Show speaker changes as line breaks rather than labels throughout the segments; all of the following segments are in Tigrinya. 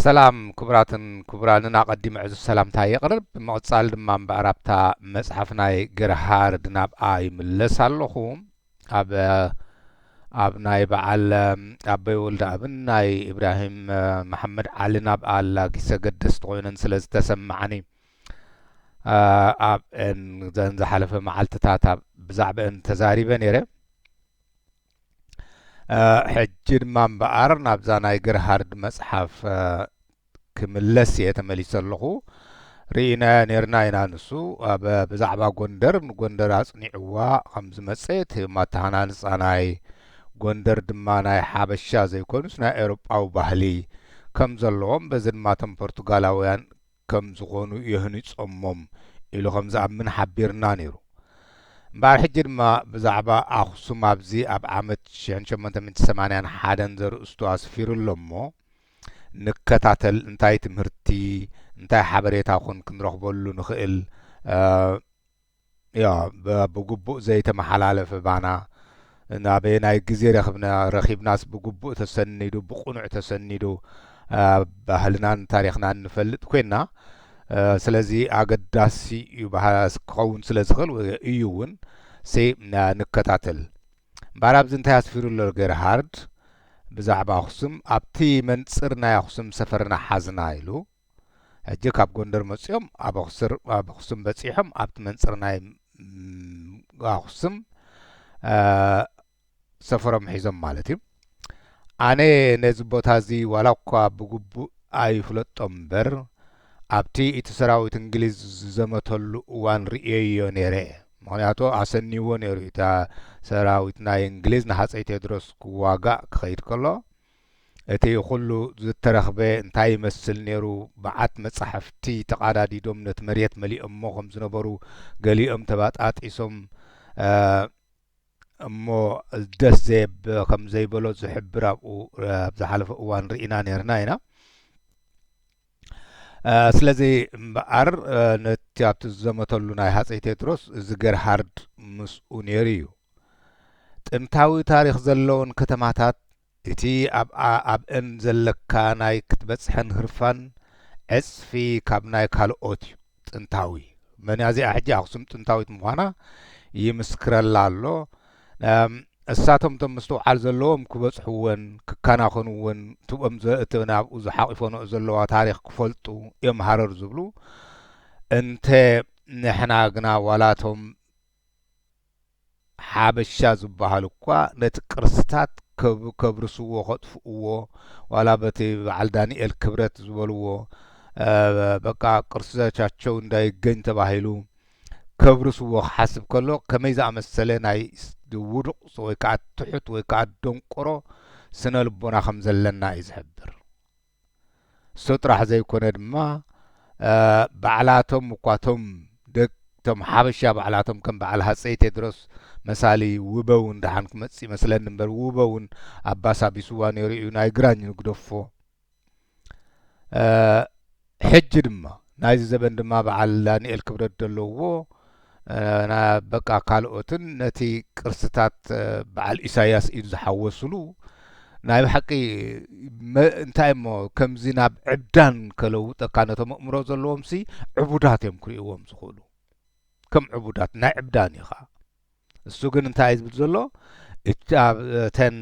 ሰላም ክቡራትን ክቡራንን ኣቐዲመ ዕዙዝ ሰላምታ የቕርብ ብምቕጻል ድማ እምበኣር ኣብታ መጽሓፍ ናይ ገርሃርድ ናብኣ ይምለስ ኣለኹ ኣብ ኣብ ናይ በዓል ኣበይ ወልደ ኣብን ናይ ኢብራሂም መሓመድ ዓሊ ናብኣ ኣላጊሰ ገደስቲ ኮይነን ስለ ዝተሰማዓኒ ኣብ ዘን ዝሓለፈ መዓልትታት ኣብ ብዛዕባአን ተዛሪበ ነይረ ሕጂ ድማ እምበኣር ናብዛ ናይ ግርሃርድ መጽሓፍ ክምለስ እየ ተመሊሰ ኣለኹ ርኢናዮ ነርና ኢና ንሱ ኣብ ብዛዕባ ጎንደር ንጎንደር ኣጽኒዕዋ ከም ዝመጸ እቲ ማተሃናንጻ ናይ ጎንደር ድማ ናይ ሓበሻ ዘይኮኑስ ናይ ኤውሮጳዊ ባህሊ ከም ዘለዎም በዚ ድማ እቶም ፖርቱጋላውያን ከም ዝኾኑ የህኒጾሞም ኢሉ ከም ዝኣምን ሓቢርና ነይሩ። እምበኣር ሕጂ ድማ ብዛዕባ ኣኽሱም ኣብዚ ኣብ ዓመት ሽሕን ሸሞንተ ሚእቲ ሰማንያን ሓደን ዘርእስቱ ኣስፊሩ ኣሎ እሞ ንከታተል እንታይ ትምህርቲ እንታይ ሓበሬታ ኹን ክንረኽበሉ ንኽእል ያእ ብግቡእ ዘይተመሓላለፈ ባና ናበየናይ ግዜ ረክብና ረኪብናስ ብግቡእ ተሰኒዱ ብቁኑዕ ተሰኒዱ ባህልናን ታሪክናን ንፈልጥ ኮይና ስለዚ ኣገዳሲ እዩ ክኸውን ስለ ዝኽእል እዩ እውን ሴ ንከታተል እምበኣር ኣብዚ እንታይ ኣስፊሩ ኣሎ ገርሃርድ ብዛዕባ ኣኽሱም ኣብቲ መንጽር ናይ ኣኽሱም ሰፈርና ሓዝና ኢሉ ሕጂ ካብ ጎንደር መጺኦም ኣብ ኣክሱር ኣብ ኣክሱም በጺሖም ኣብቲ መንጽር ናይ ኣክሱም ሰፈሮም ሒዞም ማለት እዩ ኣነ ነዚ ቦታ እዚ ዋላ እኳ ብግቡእ ኣይፍለጦ እምበር ኣብቲ እቲ ሰራዊት እንግሊዝ ዝዘመተሉ እዋን ርእየዮ ነይረ ምክንያቱ ኣሰኒዎ ነይሩ እታ ሰራዊት ናይ እንግሊዝ ንሃፀይ ቴድሮስ ክዋጋእ ክኸይድ ከሎ እቲ ኹሉ ዝተረኽበ እንታይ ይመስል ነይሩ? መዓት መጻሕፍቲ ተቓዳዲዶም ነቲ መሬት መሊኦሞ ከም ዝነበሩ፣ ገሊኦም ተባጣጢሶም እሞ ደስ ዘየብ ከም ዘይበሎ ዝሕብር ኣብኡ ኣብ ዝሓለፈ እዋን ርኢና ነይርና ኢና። ስለዚ እምበኣር ነቲ ኣብቲ ዝዘመተሉ ናይ ሃፀይ ቴድሮስ እዚ ገርሃርድ ምስኡ ነይሩ እዩ ጥንታዊ ታሪክ ዘለዎን ከተማታት እቲ ኣብኣኣብአን ዘለካ ናይ ክትበፅሐን ህርፋን ዕፅፊ ካብ ናይ ካልኦት እዩ ጥንታዊ መንያ እዚኣ ሕጂ ኣክሱም ጥንታዊት ምዃና ይምስክረላ ኣሎ እሳቶም እቶም ምስትውዓል ዘለዎም ክበጽሕወን ክከናኸንወን ትኦም እቲ ናብኡ ዝሓቂፎንኦ ዘለዋ ታሪኽ ክፈልጡ እዮም ሃረር ዝብሉ እንተ ንሕና ግና ዋላቶም ሓበሻ ዝበሃሉ እኳ ነቲ ቅርስታት ከብርስዎ ከጥፍእዎ ዋላ በቲ በዓል ዳኒኤል ክብረት ዝበልዎ በቃ ቅርስቻቸው እንዳይገኝ ተባሂሉ ከብርስዎ ክሓስብ ከሎ ከመይ ዝኣመሰለ ናይ ውዱቕ ወይ ከዓ ትሑት ወይ ከዓ ደንቆሮ ስነ ልቦና ከም ዘለና እዩ ዝሕብር። እሶ ጥራሕ ዘይኮነ ድማ ባዕላቶም እኳ እቶም ደቅ እቶም ሓበሻ ባዕላቶም ከም በዓል ሃጸይ ቴድሮስ መሳሊ ውበ እውን ደሓን ክመጽእ ይመስለኒ እምበር ውበ እውን ኣባሳቢስዋ ነይሩ እዩ ናይ ግራኝ ንግደፎ ሕጂ ድማ ናይዚ ዘበን ድማ በዓል ዳኒኤል ክብረት ደለዉዎ በቃ ካልኦትን ነቲ ቅርስታት በዓል ኢሳያስ ኢድ ዝሓወሱሉ ናይ ብሓቂ እንታይ እሞ ከምዚ ናብ ዕብዳን ከለውጠካ ነቶም ኣእምሮ ዘለዎምሲ ዕቡዳት እዮም ክርእይዎም ዝኽእሉ ከም ዕቡዳት ናይ ዕብዳን ኢኻ እሱ ግን እንታይ እዩ ዝብል ዘሎ እተን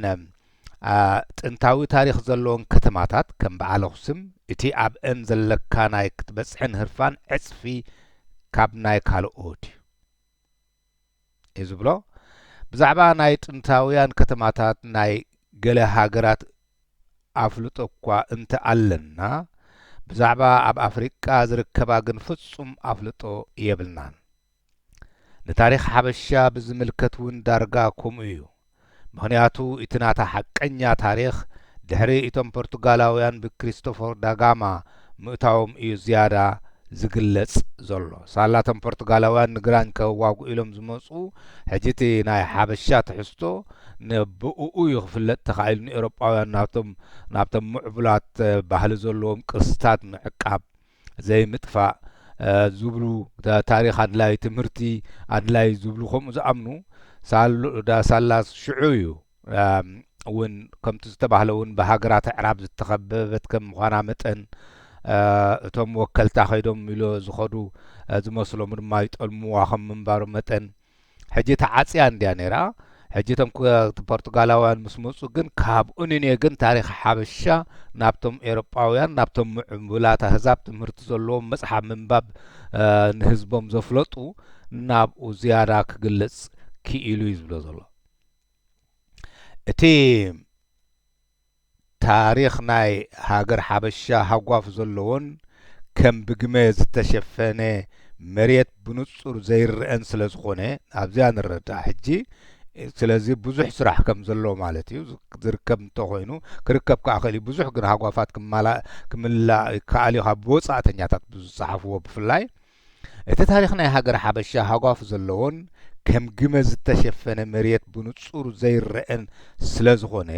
ጥንታዊ ታሪኽ ዘለዎን ከተማታት ከም በዓል ኣኽሱም እቲ ኣብእን ዘለካ ናይ ክትበጽሕን ህርፋን ዕጽፊ ካብ ናይ ካልኦት እዩ እዩ ዝብሎ ብዛዕባ ናይ ጥንታውያን ከተማታት ናይ ገለ ሃገራት ኣፍልጦ እኳ እንተ ኣለና ብዛዕባ ኣብ ኣፍሪቃ ዝርከባ ግን ፍጹም ኣፍልጦ የብልናን ንታሪኽ ሓበሻ ብዝምልከት ውን ዳርጋ ኮምኡ ዩ ምኽንያቱ እቲ ናታ ሓቀኛ ታሪኽ ድሕሪ እቶም ፖርቱጋላውያን ብክሪስቶፎር ዳጋማ ምእታዎም እዩ ዝያዳ ዝግለጽ ዘሎ ሳላ እቶም ፖርቱጋላውያን ንግራኝ ከዋግኡ ኢሎም ዝመጹ ሕጂ እቲ ናይ ሓበሻ ትሕዝቶ ንብእኡ ዩ ክፍለጥ ተኻኢሉ ንኤሮጳውያን ናብቶም ናብቶም ምዕቡላት ባህሊ ዘለዎም ቅርስታት ምዕቃብ ዘይምጥፋእ ዝብሉ ታሪኽ ኣድላይ ትምህርቲ ኣድላይ ዝብሉ ከምኡ ዝኣምኑ ሳላ ሽዑ እዩ እውን ከምቲ ዝተባህለ እውን ብሃገራት ኣዕራብ ዝተኸበበት ከም ምዃና መጠን እቶም ወከልታ ከይዶም ኢሎ ዝኸዱ ዝመስሎም ድማ ይጠልምዋ ከም ምንባሩ መጠን ሕጂ ተዓጽያ እንድያ ነይራ ሕጂ እቶም ፖርቱጋላውያን ምስ መጹ ግን ካብ ኡኒኔ ግን ታሪኽ ሓበሻ ናብቶም ኤሮጳውያን ናብቶም ምዕቡላት ኣህዛብ ትምህርቲ ዘለዎም መጽሓፍ ምንባብ ንህዝቦም ዘፍለጡ ናብኡ ዝያዳ ክግለጽ ክኢሉ እዩ ዝብሎ ዘሎ እቲ ታሪኽ ናይ ሃገር ሓበሻ ሃጓፍ ዘለዎን ከም ብግመ ዝተሸፈነ መሬት ብንጹር ዘይረኣን ስለ ዝኾነ ኣብዚኣ ንረዳእ ሕጂ ስለዚ ብዙሕ ስራሕ ከም ዘሎ ማለት እዩ ዝርከብ እንተ ኮይኑ ክርከብ ከኣ ክእል እዩ ብዙሕ ግን ሃጓፋት ክማላእ ክምላእ ይከኣል እዩ ካብ ወጻእተኛታት ብዝጸሓፍዎ ብፍላይ እቲ ታሪኽ ናይ ሃገረ ሓበሻ ሃጓፍ ዘለዎን ከም ግመ ዝተሸፈነ መሬት ብንጹር ዘይረኤን ስለ ዝኾነ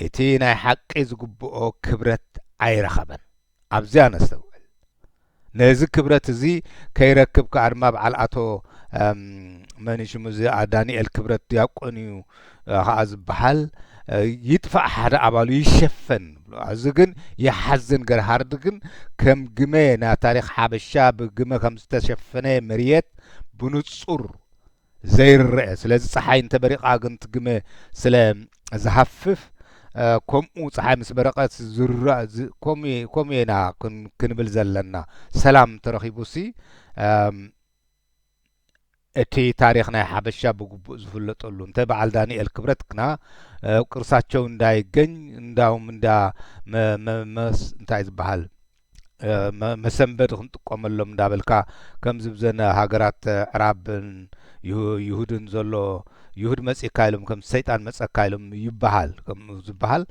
እቲ ናይ ሓቂ ዝግብኦ ክብረት ኣይረኸበን። ኣብዚኣ ነስተውዕል። ነዚ ክብረት እዚ ከይረክብ ከኣ ድማ በዓል ኣቶ መን እዩ ሽሙ እዚ ዳንኤል ክብረት ድያቆን እዩ ኸዓ ዝበሃል ይጥፋእ ሓደ ኣባሉ ይሸፈን ንብሎ ኣዚ ግን ይሓዝን ገር ሃርድ ግን ከም ግመ ና ታሪኽ ሓበሻ ብግመ ከም ዝተሸፈነ መርየት ብኑጹር ዘይርረኤ ስለዚ ጸሓይ እንተ በሪቓ ግን ትግመ ስለ ዝሃፍፍ ከምኡ ጸሓይ ምስ በረቐት ዝርራእ ከምኡ ኢና ክንብል ዘለና ሰላም ተረኺቡሲ እቲ ታሪኽ ናይ ሓበሻ ብግቡእ ዝፍለጠሉ እንተ በዓል ዳንኤል ክብረት ግና ቅርሳቸው እንዳይገኝ እንዳውም እንዳ መመስ እንታይ ዝበሃል መሰንበድ ክንጥቀመሎም እንዳበልካ ከምዚ ብዘነ ሃገራት ዕራብን ይሁድን ዘሎ ይሁድ መጺእካ ኢሎም ከም ሰይጣን መጸካ ኢሎም ይበሃል ከም ዝበሃል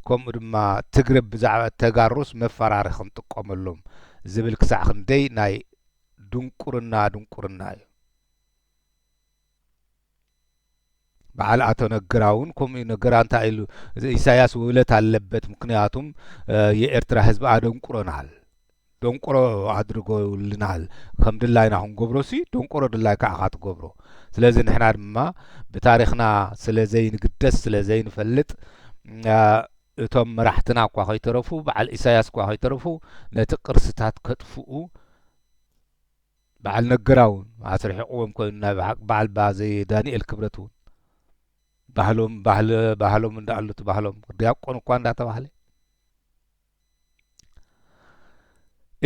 ከምኡ ድማ ትግርብ ብዛዕባ ተጋሩስ መፈራሪ ክንጥቀመሎም ዝብል ክሳዕ ክንደይ ናይ ድንቁርና ድንቁርና እዩ በዓል ኣቶ ነግራ እውን ከምኡ እዩ ነገራ እንታይ ኢሉ ኢሳያስ ውእለት ኣለበት ምክንያቱም የኤርትራ ህዝቢ ኣደንቁረናል ደንቆሮ ኣድርጎ ይውልናል ከም ድላይና ክንገብሮ ሲ ደንቆሮ ድላይ ከዓ ካትገብሮ ስለዚ ንሕና ድማ ብታሪክና ስለ ዘይንግደስ ስለ ዘይንፈልጥ እቶም መራሕትና እኳ ከይተረፉ በዓል ኢሳያስ እኳ ከይተረፉ ነቲ ቅርስታት ከጥፍኡ በዓል ነገራ እውን ኣስርሒቕዎም ኮይኑ ናይ ብሓቂ በዓል ባዘይ ዳንኤል ክብረት እውን ባህሎም ባህሊ ባህሎም እንዳኣሉት ባህሎም ዲያቆን እኳ እንዳተባህለ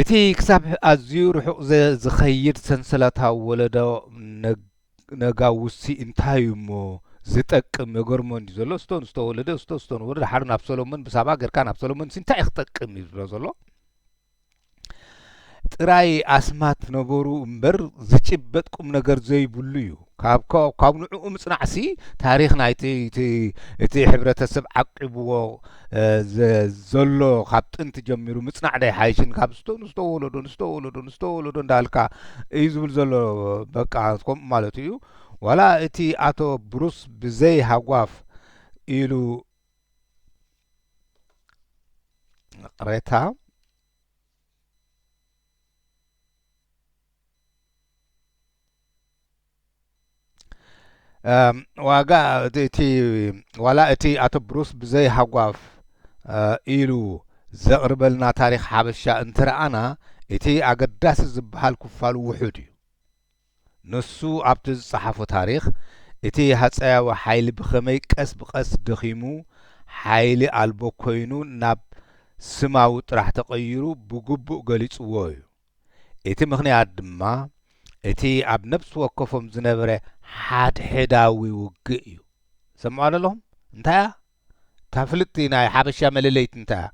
እቲ ክሳብ ኣዝዩ ርሑቕ ዝኸይድ ሰንሰለታዊ ወለዶ ነጋውሲ እንታይ እዩ እሞ ዝጠቅም የገርሞን እዩ ዘሎ ስቶን ዝተወለደ ስቶ ስቶን ወለደ ሓሩ ናብ ሰሎሞን ብሳባ ገርካ ናብ ሰሎሞን እንታይ እዩ ክጠቅም እዩ ዝብሎ ዘሎ ጥራይ ኣስማት ነበሩ እምበር ዝጭበጥ ቁምነገር ዘይብሉ እዩ። ካብ ካብ ንዕኡ ምጽናዕሲ ታሪኽ ናይቲ እቲ እቲ ሕብረተሰብ ዓቂብዎ ዘሎ ካብ ጥንቲ ጀሚሩ ምጽናዕ ዶ ኣይሓይሽን ካብ ስቶ ንስቶ ወለዶ ንስቶ ወለዶ ንስቶ ወለዶ እንዳልካ እዩ ዝብል ዘሎ በቃ ከምኡ ማለቱ እዩ ዋላ እቲ ኣቶ ብሩስ ብዘይ ሃጓፍ ኢሉ ቅሬታ ዋጋ እቲ ዋላ እቲ ኣቶ ብሩስ ብዘይ ሃጓፍ ኢሉ ዘቕርበልና ታሪኽ ሓበሻ እንትረኣና እቲ ኣገዳሲ ዝበሃል ክፋሉ ውሑድ እዩ። ንሱ ኣብቲ ዝጸሓፎ ታሪኽ፣ እቲ ሃጸያዊ ሓይሊ ብኸመይ ቀስ ብቐስ ደኺሙ ሓይሊ ኣልቦ ኰይኑ ናብ ስማዊ ጥራሕ ተቐይሩ ብግቡእ ገሊጽዎ እዩ። እቲ ምኽንያት ድማ እቲ ኣብ ነብሲ ወከፎም ዝነበረ ሓድሕዳዊ ውግእ እዩ። ትሰምዕዋ ደለኹም? እንታይ እያ? እታ ፍልጥቲ ናይ ሓበሻ መለለይት እንታያ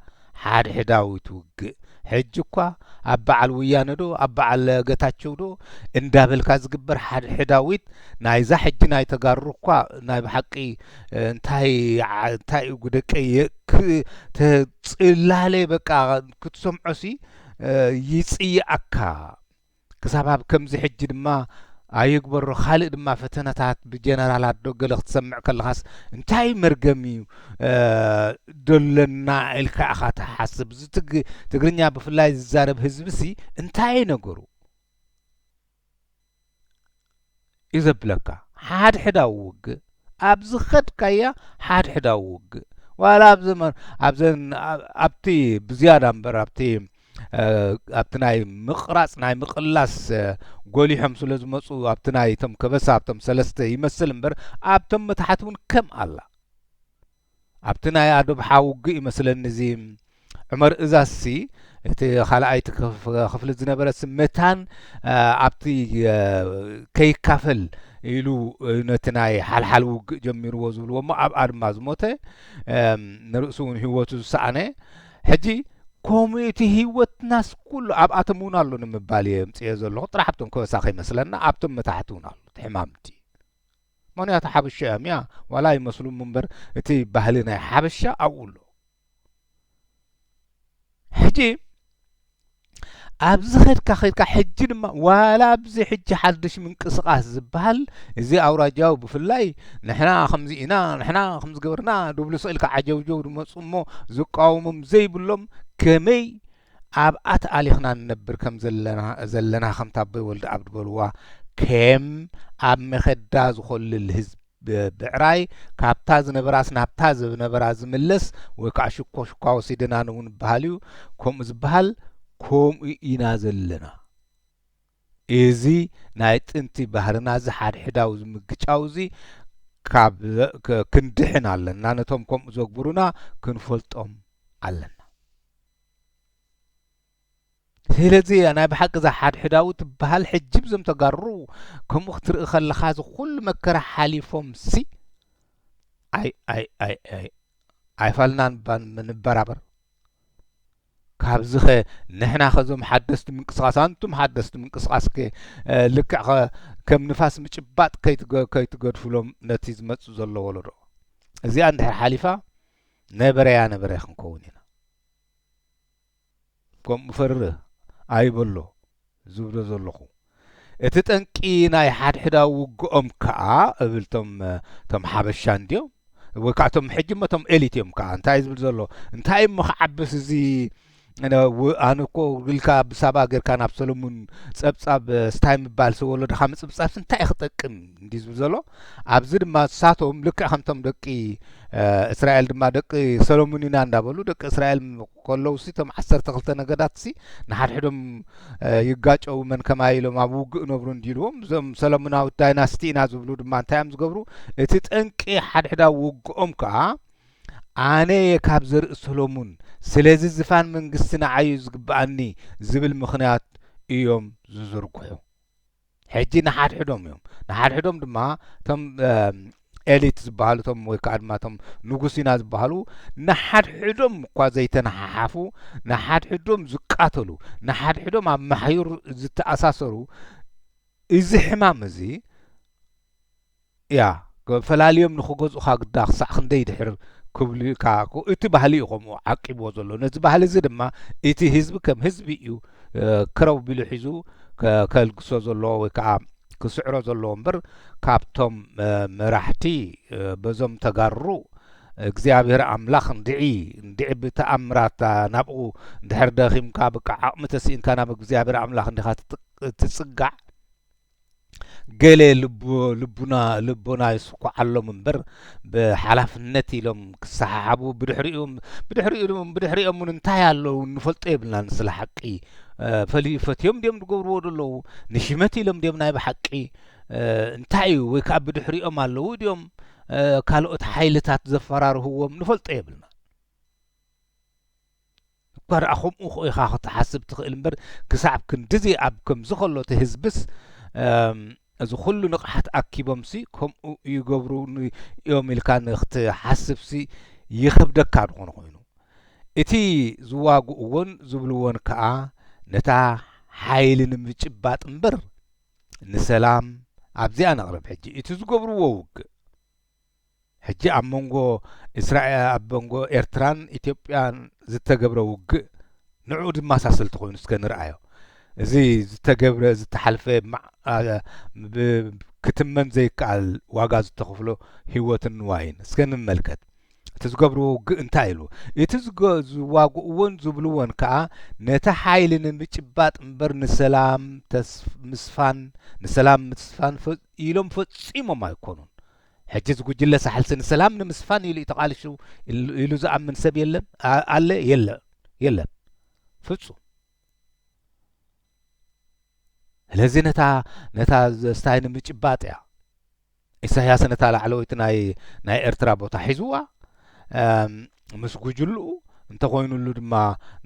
ሓድሕዳዊት ውግእ ሕጂ እኳ ኣብ በዓል ውያነ ዶ ኣብ በዓል ገታቸው ዶ እንዳበልካ ዝግበር ሓድሕዳዊት ናይዛ ሕጂ ናይ ተጋሩ እኳ ናይ ብሓቂ እንታይ እንታይ ጉደቀየ ተጽላለ በቃ ክትሰምዖሲ ይጽይኣካ ክሳብ ኣብ ከምዚ ሕጂ ድማ ኣይግበሮ ካልእ ድማ ፈተነታት ብጀነራላት ዶ ገለ ክትሰምዕ ከለኻስ እንታይ መርገም እዩ ደለና ኢልካ ኢኻ ትሓስብ እዚ ትግርኛ ብፍላይ ዝዛረብ ህዝቢሲ እንታይ ነገሩ እዩ ዘብለካ ሓድሕዳዊ ውግእ ኣብ ዝኸድካያ ሓድሕዳዊ ውግእ ዋላ ኣብ ዘመን ኣብዘን ኣብቲ ብዝያዳ እምበር ኣብቲ ኣብቲ ናይ ምቕራፅ ናይ ምቕላስ ጎሊሖም ስለ ዝመፁ ኣብቲ ናይ እቶም ከበሳ ኣብቶም ሰለስተ ይመስል እምበር ኣብቶም መታሕት እውን ከም ኣላ ኣብቲ ናይ ኣዶብሓ ውግእ ይመስለኒ እዚ ዑመር እዛዝሲ እቲ ካልኣይቲ ክፍሊ ዝነበረሲ መታን ኣብቲ ከይካፈል ኢሉ ነቲ ናይ ሓልሓል ውግእ ጀሚርዎ ዝብልዎ እሞ ኣብኣ ድማ ዝሞተ ንርእሱ እውን ህይወቱ ዝሰኣነ ሕጂ ከምኡ እቲ ህይወትናስ ኩሉ ኣብኣቶም እውን ኣሎ ንምባል እየ ምፅዮ ዘለኹ ጥራሕ ኣብቶም ከበሳ ከይመስለና ኣብቶም መታሕቲ እውን ኣሎ እቲ ሕማምቲ መንያቱ ሓበሾ እያም እያ ዋላ ኣይመስሉ ምበር እቲ ባህሊ ናይ ሓበሻ ኣብኡ ኣሎ ሕጂ ኣብዚ ኸድካ ኸድካ ሕጂ ድማ ዋላ ኣብዚ ሕጂ ሓድሽ ምንቅስቃስ ዝበሃል እዚ ኣውራጃዊ ብፍላይ ንሕና ከምዚ ኢና ንሕና ከምዚ ገበርና ድብሉ ስእልካ ዓጀውጀው ድመፁ እሞ ዝቃወሞም ዘይብሎም ከመይ ኣብ ኣት ኣሊኽና ንነብር ከም ዘለና ዘለና ከምታ ኣቦይ ወልደኣብ ድበልዋ ኬም ኣብ መኸዳ ዝኾልል ህዝብ ብዕራይ ካብታ ዝነበራስ ናብታ ዝነበራ ዝምለስ ወይ ከዓ ሽኮ ሽኳ ወሲደናን እውን በሃልዩ ከምኡ ዝበሃል ከምኡ ኢና ዘለና። እዚ ናይ ጥንቲ ባህርና እዚ ሓድሕዳዊ ዝምግጫው እዚ ካብ ክንድሕን ኣለና ነቶም ከምኡ ዘግብሩና ክንፈልጦም ኣለና ስለዚ ናይ ብሓቂ እዛ ሓድሕዳዊ ትበሃል ሕጂ ብዞም ተጋሩ ከምኡ ክትርኢ ከለኻ እዚ ኩሉ መከራ ሓሊፎም ሲ ኣይ ኣይ ኣይ ኣይ ኣይፋልናን ንበራበር ካብዚኸ ንሕና ከዞም ሓደስቲ ምንቅስቃስ ኣንቱም ሓደስቲ ምንቅስቃስ ከ ልክዕ ከ ከም ንፋስ ምጭባጥ ከይትገድፍሎም ነቲ ዝመጽእ ዘሎ ወለዶ እዚኣ እንድሕር ሓሊፋ ነበረያ ነበረ ክንከውን ኢና ከምኡ ፈርህ ኣይበሎ ዝብሎ ዘለኹ። እቲ ጠንቂ ናይ ሓድሕዳዊ ውግኦም ከኣ እብል እቶም እቶም ሓበሻ እንድዮም ወይ ከኣ እቶም ሕጂ እሞ እቶም ኤሊት እዮም ከኣ እንታይ ዝብል ዘሎ እንታይ እሞ ክዓብስ እዚ ኣነ እኮ ግልካ ብሳባ ጌርካ ናብ ሰለሙን ጸብጻብ ስታይ ምባል ሰወለድኻ ምጽብጻብስ እንታይ ክጠቅም እንዲ ዝብል ዘሎ ኣብዚ ድማ ንሳቶም ልክዕ ከምቶም ደቂ እስራኤል ድማ ደቂ ሰለሙን ኢና እንዳበሉ ደቂ እስራኤል ከለዉሲ እቶም ዓሰርተ ክልተ ነገዳትሲ ንሓድሕዶም ይጋጨዉ መን ከማይ ኢሎም ኣብ ውግእ እነብሩ እንዲልዎም እዞም ሰለሙናዊት ዳይናስቲ ኢና ዝብሉ ድማ እንታይ እዮም ዝገብሩ እቲ ጠንቂ ሓድሕዳዊ ውግኦም ከዓ ኣነ እየ ካብ ዘርኢ ሰሎሙን ስለዚ ዝፋን መንግስቲ ንዓዩ ዝግብኣኒ ዝብል ምኽንያት እዮም ዝዝርግሑ ሕጂ ንሓድሕዶም እዮም ንሓድሕዶም ድማ እቶም ኤሊት ዝበሃሉ እቶም ወይ ከዓ ድማ እቶም ንጉስ ኢና ዝበሃሉ ንሓድሕዶም እኳ ዘይተነሓሓፉ ንሓድሕዶም ዝቃተሉ ንሓድሕዶም ኣብ ማሕዩር ዝተኣሳሰሩ እዚ ሕማም እዚ እያ ፈላልዮም ንክገዝኡኻ ግዳ ክሳዕ ክንደይ ድሕር ክብሉ እካ እቲ ባህሊ እዩ ከምኡ ዓቂብዎ ዘሎ ነዚ ባህሊ እዚ ድማ እቲ ህዝቢ ከም ህዝቢ እዩ ክረው ቢሉ ሒዙ ከልግሶ ዘለዎ ወይ ከዓ ክስዕሮ ዘለዎ እምበር ካብቶም መራሕቲ በዞም ተጋሩ እግዚኣብሔር ኣምላኽ እንድዒ እንድዒ ብተኣምራት ናብኡ እንድሕር ደኺምካ ብቃ ዓቕሚ ተስኢንካ ናብ እግዚኣብሔር ኣምላኽ እንዲኻ ትጽጋዕ ገለ ልቡና ልቦና ይስኩዓሎም እምበር ብሓላፍነት ኢሎም ክሰሓሓቡ ብድሕሪኦም ብድሕሪኦም ብድሕሪኦም እውን እንታይ ኣለዉ ንፈልጦ የብልናን ስለ ሓቂ ፈልዩ ፈትዮም ድዮም ዝገብርዎ ዘለዉ ንሽመት ኢሎም ድዮም ናይ ብሓቂ እንታይ እዩ ወይ ከዓ ብድሕሪኦም ኣለዉ ድዮም ካልኦት ሓይልታት ዘፈራርህዎም ንፈልጦ የብልና እኳ ደኣ ከምኡ ኢኻ ክትሓስብ ትኽእል እምበር ክሳዕ ክንድዚ ኣብ ከምዚ ከሎ እቲ ህዝብስ እዚ ኩሉ ንቕሓት ኣኪቦምሲ ከምኡ ይገብሩ እዮም ኢልካ ንክትሓስብሲ ይኸብደካ ዝኾነ ኮይኑ እቲ ዝዋግእዎን ዝብልዎን ከኣ ነታ ሓይሊ ንምጭባጥ እምበር ንሰላም ኣብዚኣ ነቕርብ ሕጂ እቲ ዝገብርዎ ውግእ ሕጂ ኣብ መንጎ እስራኤ ኣብ መንጎ ኤርትራን ኢትዮጵያን ዝተገብረ ውግእ ንዕኡ ዝማሳሰል ተኾይኑ እስከ ንርኣዮ። እዚ ዝተገብረ ዝተሓልፈ ክትመን ዘይከኣል ዋጋ ዝተኽፍሎ ህይወትን ንዋይን እስከ ንመልከት። እቲ ዝገብርዎ ውግእ እንታይ ኢሉ እቲ ዝዋግእዎን ዝብልዎን ከዓ ነቲ ሓይሊ ንምጭባጥ እምበር ንሰላም ምስፋን ንሰላም ምስፋን ኢሎም ፈጺሞም ኣይኮኑን። ሕጂ እዚ ጉጅለ ሳሕልሲ ንሰላም ንምስፋን ኢሉ እዩ ተቃሊሱ ኢሉ ዝኣምን ሰብ የለን ኣለ የለ የለን ፍጹም። ስለዚ ነታ ነታ ስታይ ንምጭባጥ እያ ኢሳያስ ነታ ላዕለወይቲ ናይ ናይ ኤርትራ ቦታ ሒዝዋ ምስ ጉጅልኡ እንተኾይንሉ ድማ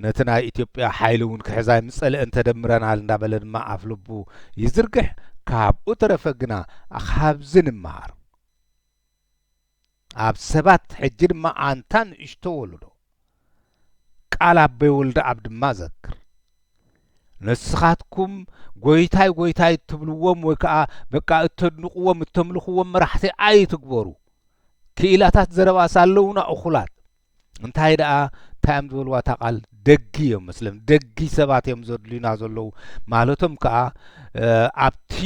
ነቲ ናይ ኢትዮጵያ ሓይሊ እውን ክሕዛ ይምጸልአ እንተደምረናል እንዳበለ ድማ ኣፍ ልቡ ይዝርግሕ ካብኡ ተረፈ ግና ካብዚ ንመሃር ኣብ ሰባት ሕጂ ድማ ኣንታ ንእሽቶ ወለዶ ቃል ኣበይ ወልደ ኣብ ድማ ዘክር ንስኻትኩም ጎይታይ ጎይታይ እትብልዎም ወይ ከዓ በቃ እተድንቅዎም እተምልኽዎም መራሕቲ ኣይትግበሩ ክኢላታት ዘረባ ሳለውና እኹላት እንታይ ደኣ እንታይዮም ዝበልዋ እታ ቃል ደጊ እዮም መስለም ደጊ ሰባት እዮም ዘድልዩና ዘለዉ ማለቶም ከዓ ኣብቲ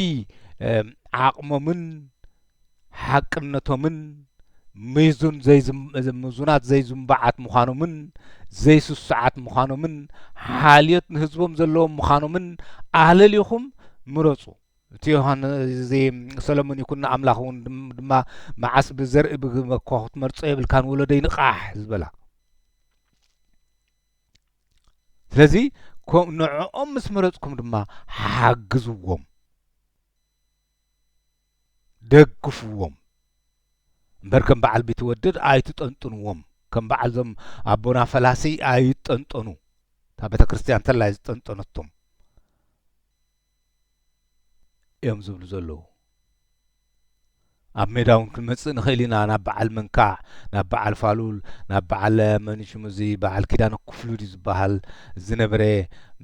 ዓቕሞምን ሓቅነቶምን ምዙን ዘይምዙናት ዘይዝምባዓት ምዃኖምን ዘይስሱዓት ምዃኖምን ሓልዮት ንህዝቦም ዘለዎም ምዃኖምን ኣለሊኹም ምረፁ እቲ ዮሃን እዚ ሰለሙን ይኩኖ ኣምላኽ እውን ድማ መዓስ ብዘርኢ ብግመ እኳ ክትመርጾ የብልካን ወለደይ ንቓሕ ዝበላ ስለዚ ንዕኦም ምስ መረጽኩም ድማ ሓግዝዎም ደግፍዎም እምበር ከም በዓል ቢትወደድ ኣይትጠንጥንዎም ከም በዓል ዞም ኣቦና ፈላሲ ኣይጠንጠኑ እታ ቤተ ክርስትያን ተላይ ዝጠንጠነቶም እዮም ዝብሉ ዘለዉ። ኣብ ሜዳ እውን ክንመጽእ ንኽእል ኢና ናብ በዓል መንካዕ ናብ በዓል ፋሉል ናብ በዓል መንሽሙ እዚ በዓል ኪዳነ ክፍሉ ድዩ ዝበሃል ዝነበረ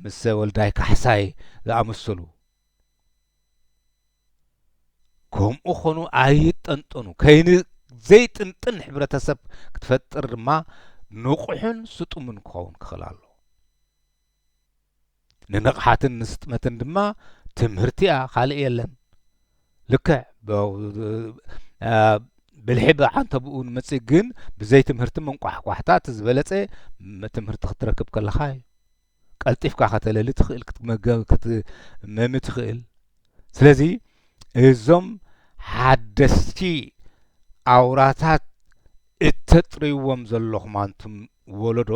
ምስ ወልዳይ ካሕሳይ ዝኣመሰሉ ከምኡ ኾኑ ኣይጠንጠኑ ከይኒ ዘይጥንጥን ሕብረተሰብ ክትፈጥር ድማ ንቑሕን ስጡምን ክኸውን ክኽእል ኣሎ ንንቕሓትን ንስጥመትን ድማ ትምህርቲ እያ ካልእ የለን ልክዕ ብልሒ ብዓንተብኡ ንመጽእ ግን ብዘይ ትምህርቲ መንቋሕቋሕታ እቲ ዝበለጸ ትምህርቲ ክትረክብ ከለኻ እዩ ቀልጢፍካ ከተለሊ ትኽእል ክትመገብ ክትመሚ ትኽእል ስለዚ እዞም ሓደስቲ ኣውራታት እተጥርይዎም ዘለኹም ኣንቱም ወለዶ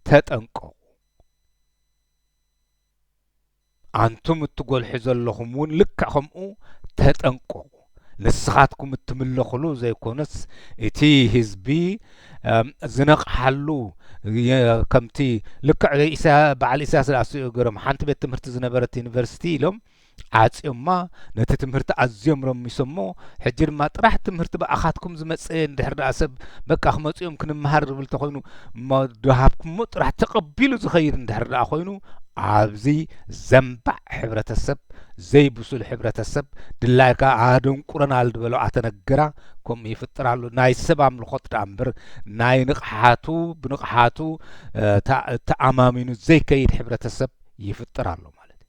ተጠንቀቁ ኣንቱም እትጎልሑ ዘለኹም እውን ልክዕ ከምኡ ተጠንቀቁ ንስኻትኩም እትምለኽሉ ዘይኮነስ እቲ ህዝቢ ዝነቕሓሉ ከምቲ ልክዕ በዓል ኢሳያስ ዝኣ ገሮም ሓንቲ ቤት ትምህርቲ ዝነበረት ዩኒቨርሲቲ ኢሎም ዓጽዮማ ነቲ ትምህርቲ ኣዝዮም ረሚሶሞ ሕጂ ድማ ጥራሕ ትምህርቲ ብኣኻትኩም ዝመጸ እንድሕር ደኣ ሰብ በቃ ክመጹ እዮም ክንመሃር ዝብል ተኾይኑ እሞ ድሃብኩሞ ጥራሕ ተቐቢሉ ዝኸይድ እንድሕር ደኣ ኮይኑ ኣብዚ ዘንባዕ ሕብረተሰብ ዘይብሱል ሕብረተሰብ ድላይካ ኣደንቁረን ኣልድበሎ ኣተነገራ ከምኡ ይፍጥር ኣሎ ናይ ሰብ ኣምልኾት ደኣ እምበር ናይ ንቕሓቱ ብንቕሓቱ ተኣማሚኑ ዘይከይድ ሕብረተሰብ ይፍጥር ኣሎ ማለት እዩ